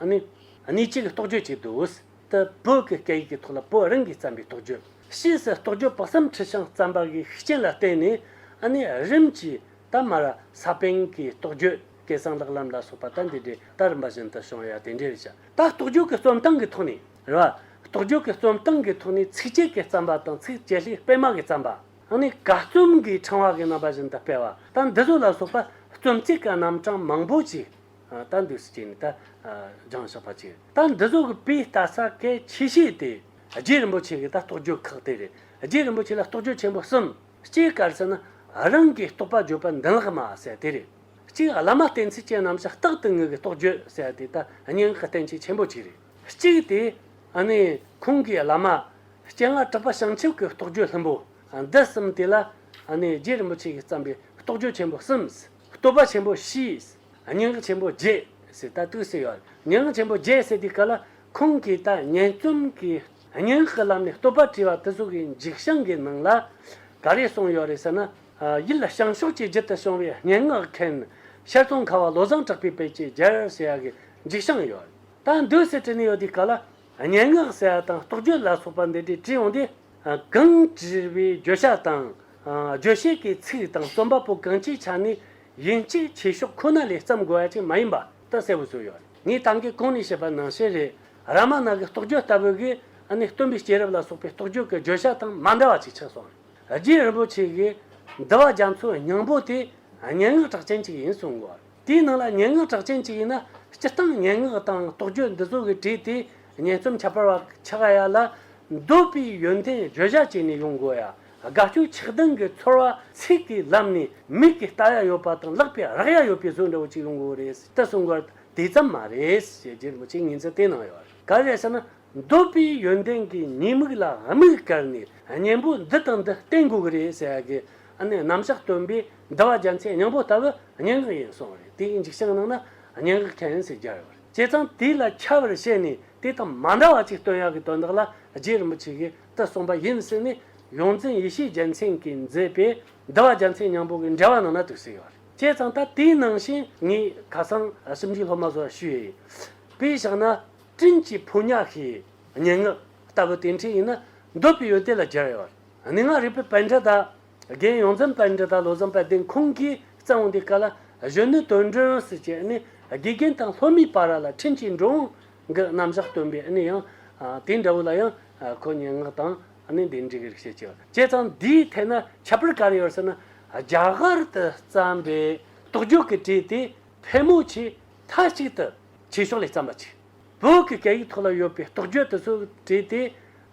ནི། གནས་གཅིག་གི་རྟོགས་བརྗོད་ཅིག་འདུག་འོས་ཏེ་བོད་ཀྱི་སྐད་ཡིག་གི་ཐོག་ལ་བོད་རང་གིས་བརྩམས་པའི་རྟོགས་བརྗོད། ཕྱིས་སུ་རྟོགས་བརྗོད་དཔག་བསམ་ཁྲི་བྱང་བརྩམས་པ་གི་ཤུགས་རྐྱེན་ལ་བརྟེན་ནས་ནི་རིམ་གྱིས་ད་མར་ས་པཎ་གྱི་རྟོགས་བརྗོད། སྐལ་བཟང་ལགས་ལམ་ལ་སོགས་པ་ལྟ་འདི་འདྲའི་ལྟ་རིམ་པ་བཞིན་དུ་བྱུང་ཡང་དེ་འདྲའི་རིགས་ཀྱང། ད་རྟོག་དཔྱོད་ཀྱི་རྩོམ་སྟངས་ཀྱི་ཐོག་ནས་རེད། རྟོག་དཔྱོད་ཀྱི་རྩོམ་སྟངས་ཀྱི་ཐོག་ནས་ཚིགས་བཅད་ཀྱི་བརྩམས་པ་དང་ཚིགས་བཅད་ལྷའི་སྤེལ་མ་གི་བརྩམས་པ། ཡང་ནས་ག་རྩོམ་གྱི་ཕྲེང་བ་གི་རྣམ་པ་བཞིན་དུ་སྤེལ་བ་ལྟ་འདི་ཚོ་ལ་སོགས་པ་རྩོམ་ཚིག་གི་རྣམ་གྲངས་མང་པོ་ཅིག་ལྟ་འདུས་སུ་བྱས་ནས་ལྟ་སྦྱངས་བྱེད་པ་བྱས། ལྟ་འདི་ཚོ་གི་དཔེའི་ལྟ་ས་གལ་ཆེ་ཤོས་དེ་རྗེ་རིན་པོ་ཆེ་གི་ལྟ་རྟོག་དཔྱོད་ཁག་དེ་རེད། རྗེ་རིན་པོ་ཆེ་ལ་རྟོག་དཔྱོད་ཆེན་པོ་གསུམ། སྤྱིའི་སྐར་ཚིག་ནི། རང་གིས་རྟོག་པ་བརྗོད་པ་འདི་ལགས་མ་ཟད་དེ་རེད། གཅིག་བླ་མ་བསྟེན་ཚུལ་ཅན་རྣམས་ཀྱི་རྟག་ཏུ་ངུ་གི་རྟོགས་བརྗོད་བྱས་པ་དེ་ལྟ་སྙིང་གི་བསྟན་བྱའི་ཆེན་པོ་གཅིག་རེད། གཅིག་དེ་ནི་ཁོང་གིས་བླ་མ་སྤྱན་སྔར་གྲགས་པ་བྱང་ཆུབ་ཀྱི་རྟོགས་བརྗོད་ལྷུན་པོ་འདི་གསུམ་དེ་ལ་ནི་རྗེ་རིན་པོ་ཆེ་ཡིས་བརྩམས་པའི་རྟོགས་བརྗོད་ཆེན་པོ་གསུམ། བསྟོད་པ་ཆེན་པོ་བཞིས་སྙིང་གི་ཆེན་པོ་བརྒྱད་ཟེར་ད་དུས་སུ་ཡོད་སྙིང་གི་ཆེན་པོ་བརྒྱད་ཟེར་དུས་ག་ལ་ཁོང་གིས་ད་སྙན་རྩོམ་གྱི་སྙིང་གི་ལམ་ནས་བསྟོད་པ་བྲིས་པ་དེ་ཚོ་གི་འཇིགས་བྱང་གི་ནང་ལ་ག་རེ་གསུངས་ཡོད་རེད་ཟེར་ན། ཡིད་ལ་བྱང་ཕྱོགས་ཀྱི་རྒྱུད་དུ་བྱུང་བའི་སྙན་ངག་མཁན་ཤར་ཙོང་ཁ་བ་བློ་བཟང་གྲགས་པའི་དཔེ་ཆའི་རྒྱལ་ཟེར་ཡག་གི་འཇིགས་ཤིང་ཡོད། ད་འདོད་ཟེར་བྲིས་ནས་ཡོད་དུས་ག་ལ་སྙན་ངག་ཟེར་ཡག་དང་རྟོགས་བརྗོད་ལ་སོགས་པ་འདི་འདྲས་བྲིས་ཡོང་དུས་གང་བྲིས་པའི་བརྗོད་བྱ་དང་རྗོད་བྱེད་ཀྱི་ཚིག་དང་རྩོམ་པ་པོ་གང་ཅིའི་ཆ་ནས་ཡིན་གཅིག་བྱེད་ཕྱོགས་ཁོ་ན་ལས་བརྩམས་དགོས་བ་ཅིག་མ་ཡིན་པ་ད་གསལ་བོ་བཟོས་ཡོད། ངས་ད་གིན་གོང་ནས་བཤད་པ་ནང་བཤད་རེད་ར་མ་ནག་གི་རྟོགས་བརྗོད་ལྟ་བུ་གིས་ནི་སྟོན་པའི་སྐྱེས་རབས་ལ་སོགས་པའི་རྟོགས་བརྗོད་ཀྱི་བརྗོད་བྱ་དང་མ་འདྲ་བ་ཅིག་ཆགས་སོང། རྗེ་རིན་པོ་ཆེ་ཡིས་འདི་བ་རྒྱ་མཚོའི་སྙིང་པོ་དེ་སྙན་ངག་གྲགས་ཅན་གཅིག་ཡིན་གསུངས། དེའི་ནང་ལ་སྙན་ངག་གྲགས་ཅན་གཅིག་ཡིན་ན་སྤྱིར་བཏང་སྙན་ངག་དང་རྟོགས་བརྗོད་འདི་ཚོ་གི་བྲིས་དེ་སྙན་རྩོམ་ཁྱད་པར་བ་ཆགས་ཡ་ལ། འདོད་པའི་ཡོན་ཏན་བརྗོད་བྱ་བྱས་ནས་ཡོང་དགོས་ཡ། དགའ་སྐྱོ་ཆགས་སྡང་གི་ཚོར་བ་ཚིག་གི་ལམ་ནས་མིག་གིས་ལྟ་ཡ་ཡོད་པ་དང་ལག་པས་རག་ཡ་ཡོད་པའི་བཟོ་འདྲ་བོ་ཅིག་ཡོང་དགོས་རེད་ད་གསུངས། དེ་ཙམ་མ་རེད་ཅེས་རྗེ་རིན་པོ་ཆེས་ངེས་འཛིན་གཏན་གནང་ཡོད། ག་རེ་ཟེར་ན་འདོད་པའི་ཡོན་ཏན་གྱི་ཉེས་དམིགས་ལ་དམིགས་བཀར་ནས་གཉེན་པོ་འདི་དང་འདི་བསྟེན་དགོས་ཀྱི་རེད་ཟེར་ཡ་གི་ནི་རྣམ་གཞག་སྟོན་པས་འདི་བ་རྒྱ་མཚན་སྙིང་པོ་ལྟ་བུ་སྙན་ངག་ཡིན་གསུངས་བ་རེད་དེའི་འཇིགས་བྱེད་ཀྱི་ནང་ན་སྙན་ངག་མཁན་ཟེར་རྒྱ་ཡོད་པ་རེད་བྱས་ཙང་དེ་ལ་ཁྱབ་བར་བྱས་ནས་དེ་དང་མ་འདྲ་བ་ཅིག་སྟོན་ཡ་གི་དོན་དག་ལ་རྗེ་རིན་པོ་ཆེ་གིས་དེ་གསུངས་པ་ཡིན་ཟེར་ནས་ཡོངས་འཛིན་ཡེ་ཤེས་རྒྱལ་མཚན་གྱིས་མཛད་པའི་འདི་བ་རྒྱ་མཚན་སྙིང་པོ་གི་འགྲེལ་བ་ནང་ན་དུག་སེལ་ཡོད་རེད་བྱས་ཙང་ད་དེའི་ནང་བཞིན་ངས་ཁ་སང་ཞིབ་འཇུག་སློབ་མ་ཚོ་ཞུས་ཡས་པས་བཞག་ན། སྤྲིན་གྱི་ཕོ་ཉ་ཤེས་ཉེ་ངག་ལྟ་བུ་དེ་འཕྲིན་ཡིན་ན་འདོད་པའི་ཡུལ་དེ་ལ་སྦྱར་ཡོང་བར་ནུས་ངག་རིག་པའི་པཎྜི་ཏཱ། རྒན་ཡོངས་འཛིན་པཎྜི་ཏཱ་བློ་བཟང་དཔལ་ལྡན་ཁོང་གིས་གཙང་བོ་འདི་ཀ་ལ་གཞོན་ནུའི་དོན་མགྲོན་དབུ་སུ་བྱས་ནས་དགེ་རྒན་དང་ལྷོ་མིའི་པཱ་ར་ལ་འཕྲིན་གྱི་འགྲོ་འོང་གི་རྣམ་གཞག་སྟོན་པའི་ནི་ཡང་དེ་འདྲ་བོ་ལ་ཡང་ཁོ་སྙན་ངག་དང་ནི་འདི་འགྲིག་རིག་བྱེད་ཀྱི་བྱས་ཙང་འདིའི་ཐད་ན་ཁྱད་པར་ག་རེ་ཡོད་ཟེར་ན། རྒྱ་གར་དུ་བརྩམས་པའི་དོགས་འཇོག་གི་གྲས་དེ་ཕལ་མོ་ཆེ་མཐའ་གཅིག་ཏུ། ཆེ་ཕྱོགས་ལས་བརྩམས་པ་ཆིག་བོད་ཀྱི་སྐད་ཡིག་ཐོག་ལ་ཡོད་པའི་རྟོག་དཔྱོད་དེ་ཚོ་བྲིས་ཏེ་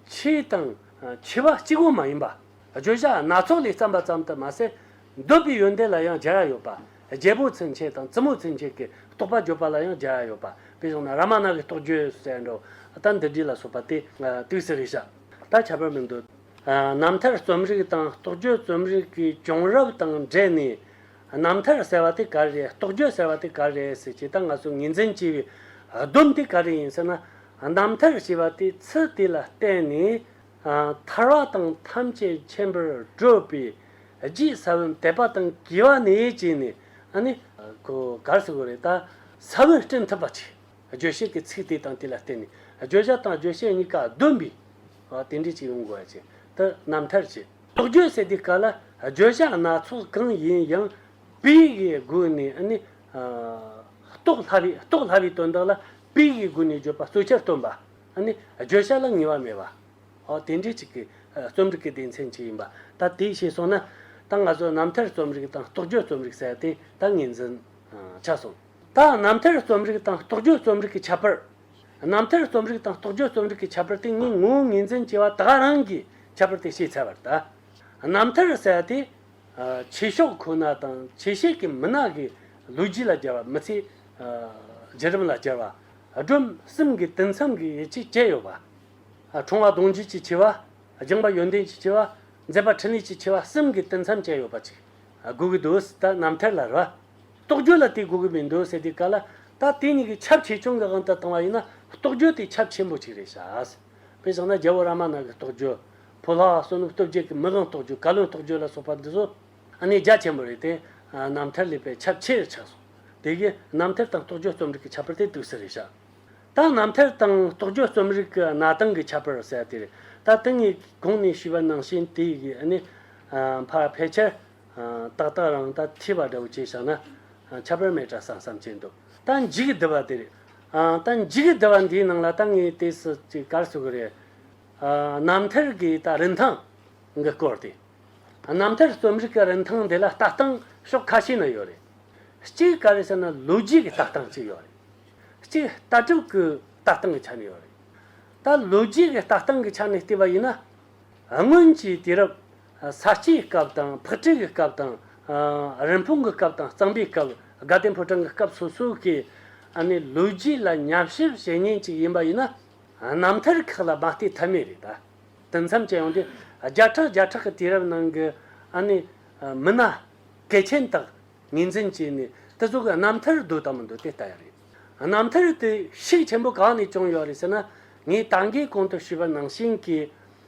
ཕྱི་དང་ཕྱི་བ་གཅིག་བུ་མ་ཡིན་པ་བརྗོད་བྱ་སྣ་ཚོགས་ལས་བརྩམས་པ་ཙམ་དུ་མ་ཟད་འདོད་པའི་ཡོན་ཏན་ལ་ཡང་སྦྱར་ཡོད་པ་རྒྱལ་པོ་ཚུན་ཆད་དང་བཙུན་མོ་ཚུན་ཆད་ཀྱི་རྟོག་པ་བརྗོད་པ་ལ་ཡང་སྦྱར་ཡོད་པ་དཔེར་བྱུང་ན་ར་མ་ན་གི་རྟོག་བརྗོད་སུ་ཟད་འགྲོ་ལྟ་འདི་བྲིས་ལ་སོགས་པ་སྟེ་ཏུའི་སི་རི་ཤ་དང་ཁྱད་པར་མི་འདོད། རྣམ་ཐར་རྩོམ་རིག་དང་རྟོག་བརྗོད་རྩོམ་རིག་གི་བྱུང་རབས་དང་འབྲེལ་ནས། རྣམ་ཐར་ཟེར་བ་དེ་ག་རེ་རེད་རྟོགས་བརྗོད་ཟེར་བ་དེ་ག་རེ་རེད་ཟེར་ཇི་ལྟར་ང་ཚོས་ངེས་འཛིན་བགྱི་བའི་སྡོམ་དེ་ག་རེ་ཡིན་ཟེར་ན། རྣམ་ཐར་ཞེས་པ་དེ་ཚུལ་དེ་ལ་བརྟེན་ནས་ཐར་བ་དང་ཐམས་ཅད་མཁྱེན་པར་སྤྲོས་པས་རྗེའི་ས་བོན་དད་པ་དང་དགེ་བ་ནས་བྱས་ནས་ནི། གོ་གར་ཟེར་བ་རེད་ད། ས་བོན་སྤྲིན་ཐུབ་པ་ཆེ། བརྗོད་བྱེད་ཀྱི་ཚིག་དེ་དང་དེ་ལ་བརྟེན་ནས་བརྗོད་བྱ་དང་བརྗོད་བྱེད་གཉིས་ཀ་བསྡོམས་པས་དེ་འདྲའི་ཅིག་ཡོང་དགོས་པ་བྱས་ཏེ་རྣམ་ཐར་བྱས། དོགས་གཅོད་ཟེར་དུས་ག་ལ་བརྗོད་བྱ་སྣ་ཚོགས་གང་ཡིན་ཡང་པིའི་སྒོ་ནས་ནི། རྟོགས་སླ་བའི་རྟོགས་སླ་བའི་དོན་དག་ལ་པིའི་སྒོ་ནས་བརྗོད་པ་གཙོ་ཆེར་སྟོན་པ། ནི། བརྗོད་བྱ་ལ་ངེས་པ་མེད་པ། དེ་འདྲའི་ཅིག་གི་རྩོམ་རིག་གི་སྡེ་ཚན་ཅིག་ཡིན་པ། ད་དེ་ཤེས་སོང་ན། ད་ང་ཚོ་རྣམ་ཐར་རྩོམ་རིག་དང་རྟོགས་བརྗོད་རྩོམ་རིག་ཟེར་དེ་ད་ངེས་འཛིན་ཆགས་སོང། ད་རྣམ་ཐར་རྩོམ་རིག་དང་རྟོགས་བརྗོད་རྩོམ་རིག་གི་ཁྱད་པར། རྣམ་ཐར་རྩོམ་རིག་དང་རྟོགས་བརྗོད་རྩོམ་རིག་གི་ཁྱད་པར་དེ་གཉིས་ངོས་ངེས་འཛིན་བྱེད་པ་དག་རང་གི་ཁྱད་པར་དེ་ཤེས་ཚལ་བར་ད། རྣམ་ཐར་གསལ་དེ། ཆོས་ཕྱོགས་ཁོ་ན་དང་ཆོས་བྱེད་ཀྱི་མི་སྣ་གི་ལོ་རྒྱུས་ལ་སྦྱར་བ་མི་ཚེའི་བརྒྱུད་རིམ་ལ་སྦྱར་བ། སྒྲོམ་གསུམ་གྱི་དུས་མཚམས་ཀྱི་ཡིད་ཆེས་བཅས་ཡོད་པ། འཁྲུངས་བ་གདུང་རྒྱུད་ཀྱི་ཆེ་བ། བྱུང་བ་ཡོན་ཏན་གྱི་ཆེ་བ། མཛད་པ་འཕྲིན་ལས་ཀྱི་ཆེ་བ་གསུམ་གྱི་དུས་མཚམས་བཅས་ཡོད་པ་ཅིག་དགོས་ཀྱི་འདུག་ད་རྣམ་ཐར་ལ་རོལ་བ་རྟོག་དཔྱོད་ལ་དེ་གོ་གི་མི་འདུག་ཟེར་དུས་ག་ལ། ད་དེ་གཉིས་ཀྱི་ཁྱབ་ཆེ་ཆུང་གི་ཨང་དུ་བཏང་བ་ཡིན་ན་རྟོག་དཔྱོད་དེ་ཁྱབ་ཆེན་པོ་ཅིག་རེད་བྱ། དཔེ་བཞག་ན་རྒྱལ་པོ་ར་མ་ན་གི་རྟོག་དཔྱོད། བོད་ལྷ་བསོད་ནམས་སྟོབས་རྒྱལ་གྱི་མི་གང་རྟོག་དཔྱོད་བཀའ་བློན་རྟོག་དཔྱོད་ལ་སོགས་པ་འདི་ཚོ། གནས་རྒྱ་ཆེན་པོ་རེད་དེ། རྣམ་ཐར་ལས་པའི་ཁྱབ་ཆེ་རེད་ཆགས་སོང། དེ་གིས་རྣམ་ཐར་དང་རྟོག་དཔྱོད་རྩོམ་རིག་གི་ཁྱད་པར་དེ་དུས་སུ་རེད་བྱ། ད་རྣམ་ཐར་དང་རྟོག་དཔྱོད་རྩོམ་རིག་གི་གནའ་དེང་གི་ཁྱད་པར་གསལ་ཏེ་རེད། ད་དེ་གཉིས་གོང་ནས་ཞུས་པ་ནང་བཞིན་དེ་གཉིས་ཕལ་ཆེར། ཏག་ཏག་རང་ལྟ་ཐིས་པ་འདྲ་བོ་བྱས་བཞག་ན། ཁྱབ་པར་མེད་དྲ་སང་བསམ་བྱས་འདུག་ལྟ་འཇིག་གི་བསྡུ་བ་དེ་རེད། ལྟ་འཇིག་གི་བསྡུ་བ་འདིའི་ནང་ལ་ལྟ་ངའི་ལྟས་སུ་ཅིག་བཀར་ཚུགས་ཀྱི་རེད། རྣམ་ཐར་གྱི་ལྟ་རིན་ཐང་གི་སྐོར་དེ། རྣམ་ཐར་རྩོམ་རིག་གི་རིན་ཐང་འདི་ལ་ལྟ་སྟངས་ཕྱོགས་ཁ་ཤས་ནས་ཡོད་རེད། གཅིག་ག་རེ་ཟེར་ན་ལོ་རྒྱུས་ཀྱི་ལྟ་སྟངས་ཅིག་ཡོད་རེད། གཅིག་ལྟ་གྲུབ་ཀྱི་ལྟ་སྟངས་ཀྱི་ཆ་ནས་ཡོད་རེད། ད་ལོ་རྒྱུས་ཀྱི་ལྟ་སྟངས་ཀྱི་ཆ་ནས་བལྟས་པ་ཡིན་ན། སྔོན་གྱི་དུས་རབས། ས་སྐྱའི་སྐབས་དང་ཕུ་ཁྲེང་གི་སྐབས་དང། རིན་སྤུངས་གི་སྐབས་དང་གཙང་པའི་སྐབས་དགའ་ལྡན་ཕོ་བྲང་གི་སྐབས་སོ་སོ་གི་ནི་ལོ་རྒྱུས་ལ་ཉམས་ཞིབ་བྱེད་ཉིན་ཅིག་ཡིན་པ་ཡིན་ན་རྣམ་ཐར་ཁག་ལ་མ་བལྟས་ཐབས་མེད་རེད་ད། དུས་མཚམས་ཅན་ཡོང་དུས་བརྒྱ་ཕྲག་བརྒྱ་ཕྲག་གི་དུས་རབས་ནང་གི་ནི་མི་སྣ་སྐལ་ཆེན་དག་ངེས་འཛིན་གྱིས་ནི་དེ་ཚོ་གི་རྣམ་ཐར་འདུག་དང་མི་འདུག་དེ་ལྟ་ཡང་རེད། རྣམ་ཐར་དེ་ཤུགས་ཆེན་པོ་གང་ནས་བྱུང་ཡོད་རེད་ཟེར་ན་ངས་ད་འགའི་གོང་དུ་ཞུས་པ་ནང་བཞིན་གྱི་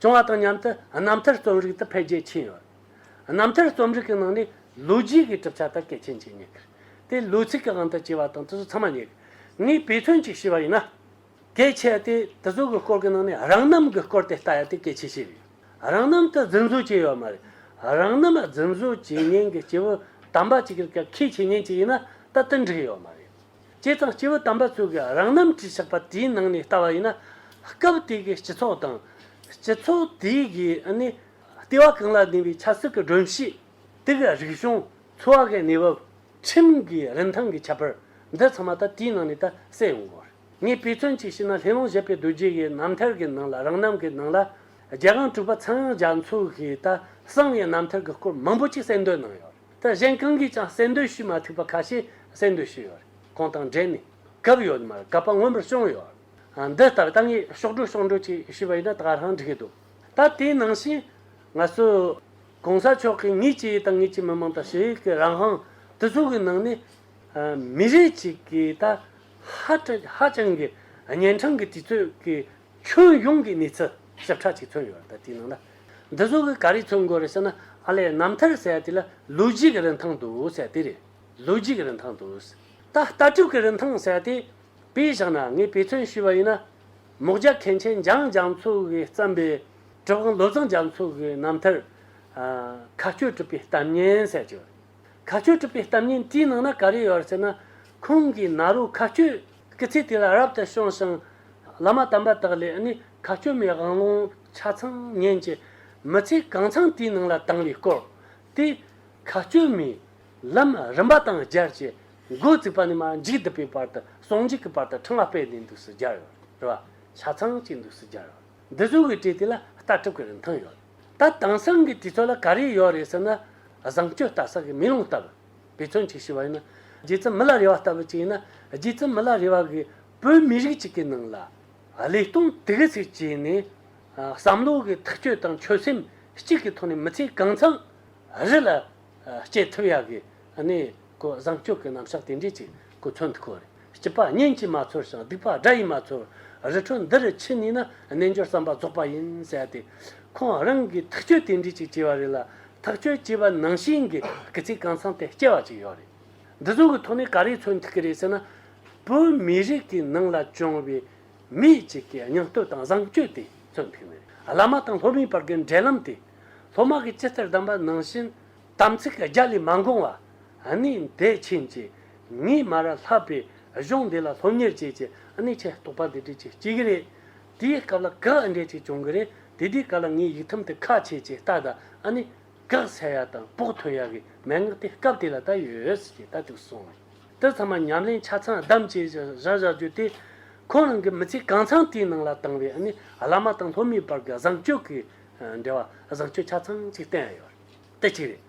བྱུང་བ་དང་མཉམ་དུ་རྣམ་ཐར་རྩོམ་རིག་དུ་འཕེལ་རྒྱས་ཕྱིན་ཡོད། རྣམ་ཐར་རྩོམ་རིག་གི་ནང་ནས་ལོ་རྒྱུས་ཀྱི་གྲུབ་ཆ་དག་གལ་ཆེན་གྱི་ཉེ་དེ་ལོ་ཚིགས་ཀྱི་དབང་དུ་བྱས་པ་དང་དེ་ཚོ་ཚང་མ་ཉེ་གནས་པའི་ཐོན་སྐྱེད་བྱས་པ་ཡིན། གལ་ཆེ་སྟེ་དེ་ཚོ་གི་སྐོར་གྱི་ནང་ནས་རང་རྣམ་གྱི་སྐོར་དེ་ལྟ་ཡ་དེ་གལ་ཆེ་ཤོས་རེད། རང་རྣམ་དུ་རྫུན་བཟོ་བྱས་ཡོད་མ་རེད། རང་རྣམ་རྫུན་བཟོ་བྱེད་མཁན་གྱི་སྐྱེ་བོ་དམ་པ་གཅིག་གི་གལ་ཆེ་ཉེན་གཅིག་ཡིན་ན་ད་དུ་འགྲིག་ཡོད་མ་རེད། སྤྱི་དང་སྤྱི་བོ་དམ་པ་ཚོས་ཀྱི་རང་རྣམ་བྲིས་ཆགས་པ་དེའི་ནང་ནས་ལྟ་བ་ཡིན་ན། སྐབས་དེ་གའི་སྤྱི་ཚོགས་དང། སྤྱི་ཚོགས་དེ་གའི་ནི་ལྟེ་བ་གང་ལ་གདིང་བའི་ཆབ་སྲིད་ཀྱི་སྒྲོམ་གཞི། དེ་གའི་རིག་གཞུང། འཚོ་བ་གའི་གནས་བབ། ཁྲིམས་ཀྱི་རིན་ཐང་གི་ཁྱད་པར། འདི་ཚང་མ་ད་དེའི་ནང་ནས་ད་གསལ་ཡོང་གི་རེད། ངས་དཔེ་མཚོན་གཅིག་བྱས་ན་ལྷེ་ལོང་བཞད་པའི་རྡོ་རྗེ་ཡི་རྣམ་ཐར་གྱི་ནང་ལ་རང་རྣམ་གྱི་ནང་ལ། རྒྱལ་ཁང་དྲུག་པ་ཚངས་དབྱངས་རྒྱ་མཚོ་གིས་ད་གསང་བའི་རྣམ་ཐར་གྱི་སྐོར་མང་པོ་གཅིག་གསལ་འདོན་གནང་ཡོད་རེད། ད་གཞན་གང་གིས་ཀྱང་གསལ་འདོད་ཞུས་མ་ཐུབ་པ་ཁ་ཤས་གསལ་འདོད་ཞུས་ཡོད་རེད་ཁོང་དང་འབྲེལ་ནས་གབ་ཡོད་མ་རེད་གབ་པ་མངོན་པར་བྱུང་ཡོད་རེད་འདི་ལྟར་ད་ངས་ཤོག་སྒྲོས་ཤོག་འགྲོས་ཅིག་ཞུས་པ་ཡིན་ན་ད་ག་རང་འགྲིག་གི་འདུག་ད་དེའི་ནང་བཞིན་ང་ཚོས ྋགོང་ས་མཆོག་གིས་ངེད་ཀྱི་དང་ངེད་ཀྱི་མི་མང་དང་ཞི་བའི་གི་རང་དབང་དེ་ཚོ་གི་ནང་ནས་མི་རིགས་ཅིག་གི་ད་ཧ་ཧ་ཅང་གི་གཉན་འཕྲང་གི་དུས་ཚོད་ཀྱི་ཁྱོན་ཡོངས་ཀྱི་གནས་ཚུལ་ཞིབ་ཕྲ་ཅིག་ཐོན་ཡོད་ད་ལྟའི་ནང་ལ། འདི་ཚོ་གི་ག་རེ་མཚོན་དགོས་རེད་ཟེར་ན་ཨ་ལས་རྣམ་ཐར་ཟེར་དེ་ལ་ལོ་རྒྱུས་ཀྱི་རིན་ཐང་འདུག་ཟེར་དེ་རེད་ལོ་རྒྱུས་ཀྱི་རིན་ཐང་འདུག་ཟེར། ད་ལྟ་གྲུབ་ཀྱི་རིན་ཐང་ཟེར་དེ་དཔེ་བཞག་ན་ངས་དཔེ་མཚོན་ཞུས་པ་ཡིན་ན། མོག་རྒྱ་མཁན་ཆེན་འཇང་རྒྱ་མཚོ་གིས་བརྩམས་པའི་གྲུབ་དབང་ལོ་ཙཱ་རྒྱ་མཚོ་གི་རྣམ་ཐར། མཁའ་སྐྱོད་གྲུབ་པའི་གཏམ་སྙན་ཟེར་གྱི་ཡོད་རེད། མཁའ་སྐྱོད་གྲུབ་པའི་གཏམ་སྙན་དེའི་ནང་ན་ག་རེ་ཡོད་རེད་ཟེར་ན། ཁོང་གིས་ནཱ་རོ་མཁའ་སྐྱོད། སྐུ་ཚེ་དེ་ལ་རབ་ཏུ་བྱུང་ཞིང། བླ་མ་དམ་པ་དག་ལས་ནི་མཁའ་སྐྱོད་མའི་དབང་ལུང་ཆ་ཚང་ཉན་གྱི། མི་ཚེ་གང་འཚམས་དེའི་ནང་ལ་བཏང་བའི་སྐོར། དེས་མཁའ་སྐྱོད་མའི་ལམ་རིམ་པ་དང་སྦྱར་གྱི། མགོ་བཙུགས་པ་ནས་མ་འཇིགས་བསྡུ་བའི་བར་དུ་ཟུང་འཇུག་གི་བར་དུ་ཕྲེང་བ་སྤེལ་ནས་འདུག་སུ་སྦྱར་བ། ཆ་ཚང་གཅིག་འདུག་སུ་སྦྱར་བ། འདི་བཟོ་བའི་གྲས་དེ་ལ་རྟ་གྲུབ་ཀྱི་རིན་ཐང་ཡོད། ད་དེང་སང་གི་དུས་ཚོད་ལ་ག་རེ་ཡོད་རེད་ཟེར་ན། བཟང་སྤྱོད་ལྟ་ས་གི་མེ་ལོང་ལྟ་བུ། བེ་ཚོན་གཅིག་ཞེས་པ་ཡིན་ན། རྗེ་བཙུན་མི་ལ་རེ་བ་ལྟ་བུ་གཅིག་ཡིན་ན། རྗེ་བཙུན་མི་ལ་རེ་བ་གིས་བོད་མི་རིགས་གཅིག་གི་ནང་ལ། ལས་སྟོང་དེ་གི་ཚིག་བཅད་ནས། བསམ་བློ་གི་ཐག་གཅོད་དང་ཆོད་སེམས་གཅིག་གི་ཐོག་ནས་མི་ཚེ་གང་འཚམ་རི་ལ་སྐྱེལ་ཐུབ་ཡག་གི་གནས་བཟང་སྤྱོད་ཀྱི་རྣམ་གཞག་དེ་འདྲས་ཅིག་གི་ཚོན་ཐུག་གོ་རེད། སྐྱི་ལྤགས་གཉན་གྱིས་མ་འཚོར་ཞིང་སྡིག་ལྤགས་དགྲ་ཡིས་མ་འཚོར། རི་ཁྲོད་འདི་རུ་ཁྱི་གཉིས་ན་རྣལ་འབྱོར་བསམ་པ་རྫོགས་པ་ཡིན་ཟེར་ཏེ། ཁོང་རང་གིས་ཐག་གཅོད་དེ་འདྲའི་ཅིག་བྱས་པ་རེད་ལ། ཐག་གཅོད་བྱས་པ་ནང་བཞིན་གྱི་སྐུ་ཚེ་གང་འཚམས་དེ་སྐྱེལ་བ་ཅིག་ཡོད་རེད། འདི་ཚོ་གི་ཐོག་ནས་ག་རེ་འཚོལ་ཐུབ་ཀྱི་རེད་ཟེར་ན། བོད་མི་རིགས་ཀྱི་ནང་ལ་བྱུང་བའི་མི་གཅིག་གི་སྙིང་སྟོབས་དང་བཟང་སྤྱོད་དེ་འཚོལ་ཐུབ་ངེས་རེད། བླ་མ་དང་སློབ་མའི་བར་གྱི་འབྲེལ་ལམ་དེ། སློབ་མ་གིས་ཅི་ལྟར་གདམས་པ་ནང་བཞིན། དམ་ཚིག་གི་རྒྱ་ལས་མ་འགོངས་བ། གནས་འདི་ཕྱིན་ཅི་ངས་མ་ར་ལྷ་པའི་གཞུང་འདི་ལ་སློབ་གཉེར་བྱེད་ཅེས་གནས་ཆེན་རྟོགས་པ་འདི་བྲིས་ཅི་བྱེད་ཀྱི་རེད། དེའི་སྐབས་ལ་གགས་འགྲེལ་ཅིག་བྱུང་གི་རེད་དེ་དེའི་སྐབས་ལ་ངས་ཡིག་ཐུམ་དེ་ཁ་ཕྱེས་ཅི་ལྟ་ད་ནི་གགས་ཚལ་ཡག་དང་བོགས་ཐོན་ཡག་གི་མན་ངག་དེ་སྐབས་དེ་ལ་ད་ཡོད་ཅེས་ལྟ་ཅིག་གསུངས། དེ་ཚང་མ་ཉམས་ལེན་ཆ་ཚང་བསྡམས་བྱས་བཞག་བཞག་རྒྱུ་དེ་ཁོང་རང་གི་མི་ཚེ་གང་ཚང་དེའི་ནང་ལ་བཏང་བའི་གནས་བླ་མ་དང་སློབ་མའི་བར་གྱི་བཟང་སྤྱོད་ཀྱི་འབྲེལ་བ་བཟང་སྤྱོད་ཆ་ཚང་ཅིག་བསྟན་ཡོད། དེ་གཅིག་རེད།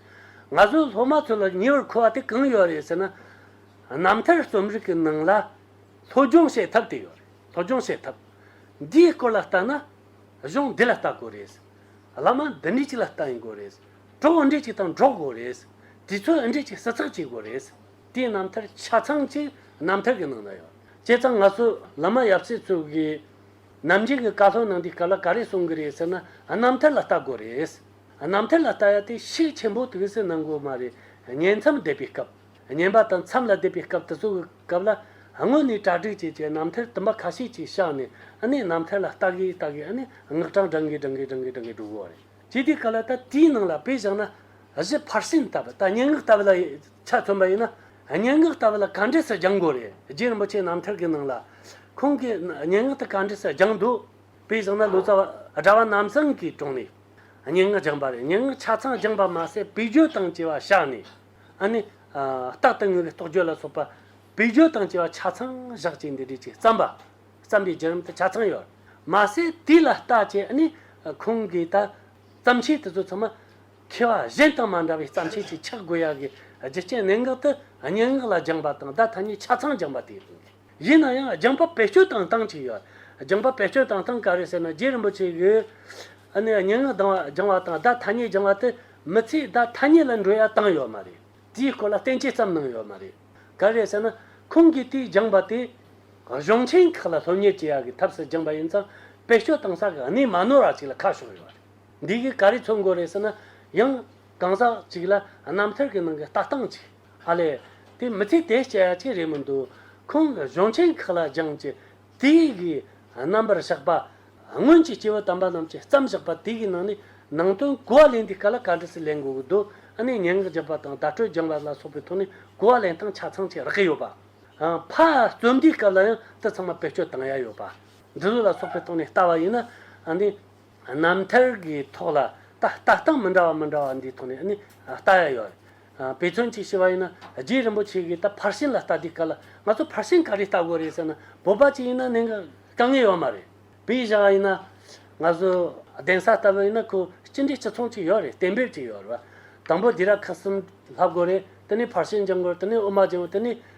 ང་ཚོའི་སློབ་མ་ཚོ་ལ་ཉེ་བར་མཁོ་བ་དེ་གང་ཡོད་རེད་ཟེར་ན། རྣམ་ཐར་རྩོམ་རིག་གི་ནང་ལ། སློབ་སྦྱོང་བྱེད་ཐབས་དེ་ཡོད་རེད། སློབ་སྦྱོང་བྱེད་ཐབས། འདིའི་སྐོར་ལ་བལྟ་ན། གཞུང་འདི་ལ་བལྟ་དགོས་རེད། བླ་མ་འདི་འདྲི་ཅིག་ལ་བལྟ་ཡིན་དགོས་རེད། གྲོགས་འདྲི་ཅིག་དང་འགྲོགས་དགོས་རེད། དུས་ཚོད་འདྲི་ཅིག་སྲི་ཚགས་བྱེད་དགོས་རེད། དེའི་རྣམ་ཐར་ཆ་ཚང་གཅིག་རྣམ་ཐར་གི་ནང་ན་ཡོད། བྱས་ཙང་ང་ཚོ་བླ་མ་ཡབ་སྲས་ཚོས་གིས། ནམ་རྒྱུན་གྱི་བཀའ་སློབ་ནང་འདིའི་སྐབས་ལ་ག་རེ་གསུང་གི་རེད་ཟེར་ན་རྣམ་ཐར་ལ་བལྟ་དགོས་རེད། རྣམ་ཐར་ལ་ལྟ་ཡ་དེ་ཤེས་ཆེན་པོ་དེ་བས་སུ་གནང་དགོས་མ་རེད་བསྙེན་མཚམས་འདེབས་པའི་སྐབས་བསྙེན་པ་དང་མཚམས་ལ་སྡེབ་པའི་སྐབས་དེ་ཚོ་གི་སྐབས་ལ་དངོས་ནས་གྲ་སྒྲིག་བྱེད་ཅེས་རྣམ་ཐར་བསྟུན་པ་ཁ་ཤས་ཅིག་བཞག་ནས་ཨ་ནི་རྣམ་ཐར་ལ་ལྟ་གི་ལྟ་གི་ཨ་ནི་སྔགས་གྲངས་བགྲང་གི་བགྲང་གི་བགྲང་གི་བགྲང་གི་འགྲོ་དགོས་བ་རེད་ཀྱི་དེའི་སྐབས་ལ་ད་དེའི་ནང་ལ་དཔེ་བཞག་ན་གཞི་ཕར་ཕྱིན་ལྟ་བུ་ད་བསྙེན་སྔགས་ལྟ་བུ་ལ་ཆ་མཚོན་པ་ཡིན་ན་བསྙེན་སྔགས་ལྟ་བུ་ལ་ག་འདྲས་སུ་སྦྱང་དགོས་རེད་རྗེ་རིན་པོ་ཆེ་རྣམ་ཐར་གི་ནང་ལ་ཁོང་གིས་བསྙེན་སྔགས་དེ་ག་འདྲས་སུ་སྦྱང་འདུག་དཔེ་བཞག་ན་ལོ་ཙཱ་བ་གྲྭ་བ་རྣམ་གསང་གིས་དྲུང་ནས། སྙན་ངག་སྦྱངས་པ་རེད་སྙན་ངག་ཆ་ཚང་སྦྱངས་པ་མ་ཟད་བེད་སྤྱོད་དང་བཅས་པ་བཞག་ནས། ཨ་ནི། རྟག་ཏུ་དངོས་པོའི་རྟོག་དཔྱོད་ལ་སོགས་པ། བེད་སྤྱོད་དང་བཅས་པ་ཆ་ཚང་བཞག་ཅིང་འདི་འདྲའི་ཆེས་བརྩམས་པ། བརྩམས་པའི་བརྒྱུད་རིམ་དུ་ཆ་ཚང་ཡོད། མ་ཟད་དེ་ལ་ལྟ་དཔྱད་ཨ་ནི། ཁོང་གིས་ད། བརྩམས་ཆོས་དེ་ཚོ་ཚང་མ། མཁས་པ་གཞན་དང་མ་འདྲ་བའི་བརྩམས་ཆོས་ཀྱི་ཕྱག་དགོས་ཡག་གི་རྒྱུ་རྐྱེན་གནད་འགག་ཏུ། སྙན་ངག་ལ་སྦྱངས་པ་དང་བརྡ་ཐ་སྙད་ཆ་ཚང་སྦྱངས་པ་དེ་ཡིན་དགོས། ཡིན་ན་ཡང་རྒྱང་པ་བེད་སྤྱོད་དང་སྟངས་གཅིག་ཡོད། རྒྱང་པ་བེད་སྤྱོད་དང་སྟངས་ག་རེ་ཟེར་ན་རྗེ་རིན་པོ་ཆེ་ཡོད། ཨ་ནི་སྙན་ངག་སྦྱང་བ་དང་བརྡ་ཐ་སྙད་སྦྱང་བ་དེ་མི་ཚེའི་བརྡ་ཐ་སྙད་ལ་འགྲོ་ཡ་སྟངས་ཡོད་མ་རེད། དེའི་སྐོར་ལ་བསྟན་བཅོས་ཙམ་གནང་ཡོད་མ་རེད། ག་རེ་ཟེར་ན་ཁོང་གིས་དེའི་སྦྱང་བ་དེ། གཞུང་ཆེན་ཁག་ལ་སློབ་གཉེར་བྱེད་ཡ་གི་ཐབས་སུ་སྦྱངས་པ་ཡིན་ཙང་བེད་སྤྱོད་སྟངས་ས་ག་ནས་མ་ནོར་བ་ཅིག་ལ་ཁ་ཕྱོགས་ཡོད་རེད། འདི་གིས་ག་རེ་འཚོལ་འགོ་རེད་ཟེར་ན་ཡང་གང་ཟག་ཅིག་ལ་རྣམ་ཐར་གི་ནང་གི་ལྟ་སྟངས་ཅིག། ཨ་ལས། དེ་མི་ཚེ་དེ་སྐྱ་ཅིག་རེད་མི་འདུག་ཁོང་གཞུང་ཆེན་ཁག་ལ་སྦྱངས་ཀྱི་དེ་གའི་རྣམ་པར་བཞག་པ། སྔོན་གྱི་སྐྱེ་བོ་དམ་པ་རྣམས་ཀྱིས་བརྩམས་བཞག་པ་དེ་གའི་ནང་ནས་ནང་དོན་གོ་བ་ལེན་དུས་ག་ལ་ག་འདྲ་ཞིག་ལེན་དགོས་ཀྱི་འདུག་ཨ་ནི་སྙན་ངག་བརྒྱབ་པ་དང་བརྡ་སྤྲོད་སྦྱངས་པ་ལ་སོགས་པའི་ཐོག་ནས་གོ་བ་ལེན་སྟངས་ཆ་ཚང་ཞིག་རག་གི་ཡོད་པ། ཕ་རྩོམ་འདིའི་སྐབས་ལ་ཡང་འདི་ཚང་མ་བེད་སྤྱོད་གཏང་ཡ་ཡོད་པ། འབྲི་ལུགས་ལ་སོགས་པའི་ཐོག་ནས་བལྟ་བ་ཡིན་ན། རྣམ་ཐར་གྱི་ཐོག་ལ་ད་ལྟ་སྟངས་མི་འདྲ་བ་མི་འདྲ་བ་འདིའི་ཐོག་ནས་ནི་ལྟ་ཡ་ཡོད་རེད། དཔེ་མཚོན་གཅིག་བྱས་པ་ཡིན་ན་རྗེ་རིན་པོ་ཆེ་གིས་ད་ཕར་ཕྱིན་ལ་ལྟ་དུས་ག་ལ་ང་ཚོ་ཕར་ཕྱིན་ག་རེ་ལྟ་དགོས་རེད་ཟེར་ན་བོད་པ་གཅིག་ཡིན་ན་ནི་དཀའ་ངལ་ཡོད་མ་རེད། བོད་ཡིག་བྱ་བ་ཡིན་ན་ང་ཚོ་གདན་ས་ལྟ་བུ་ཡིན་ན་ཁོ་སྤྱི་འགྲེ་སྤྱི་ཚོང་གཅིག་ཡོད་རེད་གཏན་འབེབས་ཅིག་ཡོད་རེད་བ། དང་པོ་དེ་ར་ཁ་གསུམ་ལྷག་དགོས་རེད་དེ་ནས་ཕར་ཕྱིན་སྦྱང་དགོས་རེད་དེ་ནས་དབུ་མ་སྦྱང་དེ་ནས་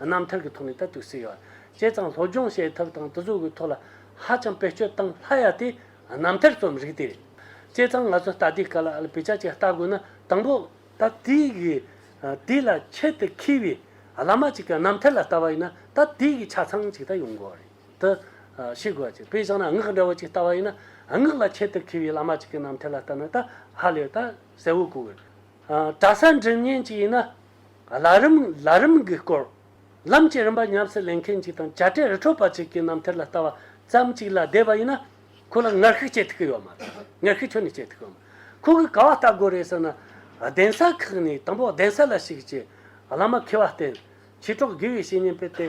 རྣམ་ཐར་གྱི་ཐོག་ནས་ད་དུས་སུ་ཡོད། བྱས་ཙང་སློབ་སྦྱོང་བྱེད་ཐབས་དང་དུས་ཚོད་ཀྱི་ཐོག་ལ་ཧ་ཅང་བེད་སྤྱོད་བཏང་སླ་ཡ་དེ་རྣམ་ཐར་རྩོམ་རིག་དེ་རེད། བྱས་ཙང་ང་ཚོས་ལྟ་དེའི་སྐབས་ལ་ལ་བེད་སྤྱད་ཅིག་བལྟ་དགོས་ན་དང་པོ། ད་ལྟའི་གི་དུས་ལ་ཁྱད་དུ་འཁེལ་བའི་བླ་མ་ཅིག་གི་རྣམ་ཐར་ལ་ལྟ་བ་ཡིན་ན་ད་ལྟའི་གི་ཆ་ཚང་ཅིག་ད་ཡོང་དགོས་རེད་དུ་ཤེས་དགོས་ཅིག་དཔེ་བཞག་ན་སྔགས་འདྲ་བོ་ཅིག་ལྟ་བ་ཡིན་ན་སྔགས་ལ་ཁྱད་དུ་འཁེལ་བའི་བླ་མ་ཅིག་གི་རྣམ་ཐར་ལ་ལྟ་ན་ད་ཧ་ལས་ད་གསལ་བོ་གོ་དགོས། གྲྭ་ས་འགྲིམ་ཉིན་ཅིག་ཡིན་ན་བླ་རུང་བླ་རུང་གི་སྐོར། ལམ་གྱི་རིམ་པ་ཉམས་སུ་ལེན་མཁན་གཅིག་དང་བྱ་བྲལ་རི་ཁྲོད་པ་གཅིག་གི་རྣམ་ཐར་ལ་ལྟ་བ་ཙམ་གཅིག་ལ་བསྡད་པ་ཡིན་ན། ཁོ་ལ་ངར་ཤུགས་སྐྱེད་ཐུབ་ཀྱི་ཡོད་མ་རེད། ངར་ཤུགས་ཁྱོན་ནས་སྐྱེད་ཐུབ་ཀྱི་ཡོད་མ་རེད། ཁོ་གིས་ག་བ་ལྟ་དགོས་རེད་ཟེར་ན། གདན་ས་ཁག་ནས་དང་པོ་གདན་ས་ལ་ཞུགས་རྗེས་བླ་མ་མཁས་པ་བསྟེན། མཆེད་གྲོགས་དགེ་བའི་བཤེས་གཉེན་སྤེལ་ཏེ།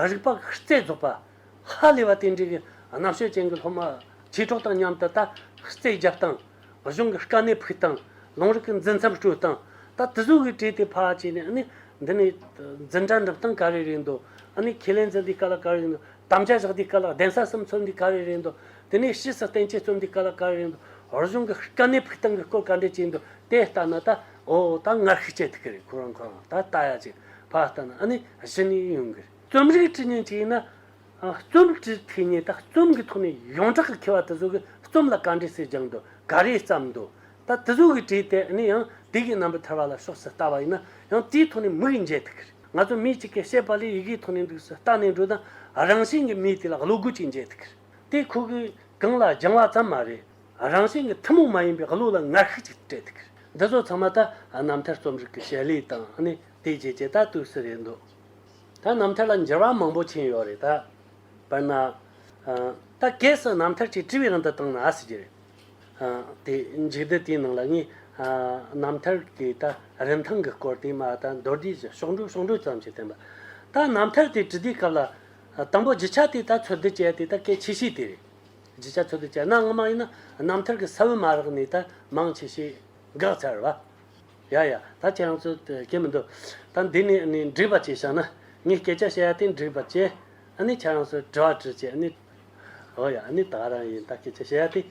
རིག་པ་ཤུགས་རྩེ་རྫོགས་པ། ཧ་ལས་པ་དེ་འདྲའི་གི་རྣམ་དཔྱོད་ཅན་གི་སློབ་མ་ཆོས་གྲོགས་དང་མཉམ་དུ་ད་རྩེ་རྒྱག་དང། གཞུང་གི་དཀའ་གནད་ཕུད་དང། ལུང་རིགས་ཀྱི་འཛིན་མཚམས་སྤྲོད་དང། ད་དུ་ཟུག་གིས་བྲིས་ཏེ་ཕ་བྱས་ནས་ནི། འདི་ནི། འཛིན་གྲྭ་འགྲིམ་སྟངས་ག་རེ་རེད་འདོད། ཨ་ནི་ཁས་ལེན་འཛིན་འདི་ག་ལ་ག་རེ་རེད་འདོད། དམ་བཅའ་བཞག་འདི་ག་ལ་གདན་ས་གསུམ་ཚོགས་འདི་ག་རེ་རེད་འདོད། དེ་ནས་ཕྱིས་སུ་བསྟན་བཅོས་རྩོམ་འདི་ག་ལ་ག་རེ་རེད་འདོད། གཞུང་གི་དཀའ་གནད་ཕུད་སྟངས་ཀྱི་སྐོར་ག་འདྲས་བྱས་འདོད་དེ་ལྟ་ན་ད། འོ་ད་ངར་ཤུགས་སྤྱད་ཐུབ་གི་རེད་ཁོ་རང་ཁོ་རང་ད་ལྟ་ཡ་ཅེས་ཕ་ལྟ་ན་ཨ་ནི་གཞི་ནས་ཡོང་གི་རེད། རྩོམ་རིག་ཀྲི་ཉིན་གྱིས་ཡིན་ན། རྩོམ་ཀྲི་ཐི་ཉིན་ད་རྩོམ་གྱི་ཐོག་ནས་ཡོངས་གྲགས་ཀྱི་མཁས་པ་དེ་ཚོ་གི་རྩོམ་ལ་ག་འདྲའི་གསེར་སྦྱངས་འདུག་ག་རེའི་བརྩམས་འདུག་ད་དེ་ཚོ་གི་བྲིས་དེ་ནི་ཡང་དེ་གི་རྣམ་པ་ཐར་བ་ལ་ཕྱོགས་སུ་ལྟ་བ་ཡིན་ན་ཡང་དེའི་ཐོག་ནས་མིག་འབྱེད་ཐུབ་གི་རེད་ང་ཚོ་མི་གཅིག་གིས་བཤད་པ་ལས་ཡི་གེའི་ཐོག་ནས་འདུག་སུ་ལྟ་ནས་འགྲོ་དང་རང་བཞིན་གྱི་མིས་དེ་ལ་བློ་སྒོ་གཅིག་འབྱེད་ཐུབ་གི་རེད་དེ་ཁོ་གི་གང་ལ་སྦྱངས་བ་ཙམ་མ་རེད་རང་བཞིན་གྱི་ཐུན་མོང་མ་ཡིན་པའི་བློ་ལ་ངར་ཤུགས་གཅིག་སྤྲད་ཐུབ་གི་རེད་འདི་ཚོ་ཚང་མ་ད་རྣམ་ཐར་རྩོམ་རིག་གི་བྱེད་ལས་དང་ནི་དེའི་རྗེས་ཀྱི་ད་དུས་སུ་རེད་འདོད། ད་རྣམ་ཐར་ལ་འགྱུར་བ་མང་པོ་ཕྱིན་ཡོད་རེད་ད། དཔེར་ན། ད་གལ་སྲིད་རྣམ་ཐར་གྱི་དྲི་བའི་རིན་དུ་བཏང་ན་ཨ་སི་ཀྱི་རེད། དེ་འཇིག་རྟེན་དེའི་ནང་ལ་ངས་རྣམ་ཐར་གྱི་ད་རིན་ཐང་གི་སྐོར་དེ་མ་ད་མདོར་བསྡུས་ཀྱི་ཤོག་འགྲོས་ཤོག་འགྲོས་ཙམ་ཞིག་བསྟན་པ། ད་རྣམ་ཐར་དེ་དྲི་དེའི་སྐབས་ལ། དང་པོ་བརྗིད་ཆགས་དེ་ད་འཚོལ་བསྡུ་བྱས་དེ་ད་གལ་ཆེ་ཤོས་དེ་རེད། བརྗིད་ཆགས་འཚོལ་བསྡུ་བྱས་ན་སྔ་མ་ཡིན་ན་རྣམ་ཐར་གྱི་ས་བོན་མ་རག་ནས་ད་མང་ཆེ་ཤོས་འགག་ཚར་བ། ཡ་ཡ། ད་ཁྱེད་རང་ཚོས་ཀྱི་མི་འདུག། ད་འདི་ནས་ནི་འདྲིས་པ་ཅིག་བྱ་ན། ངས་སྐད་ཆ་བཤད་ཡ་དེ་འདྲིས་པར་བྱེད། ཨ་ནི་ཁྱེད་རང་ཚོས་དྲི་བ་དྲིས་བྱས་ནི། ཨོ་ཡ་ཨ་ནི་ད་རང་ཡིན་ད་སྐད་ཆ་བཤད་ཡ་དེ།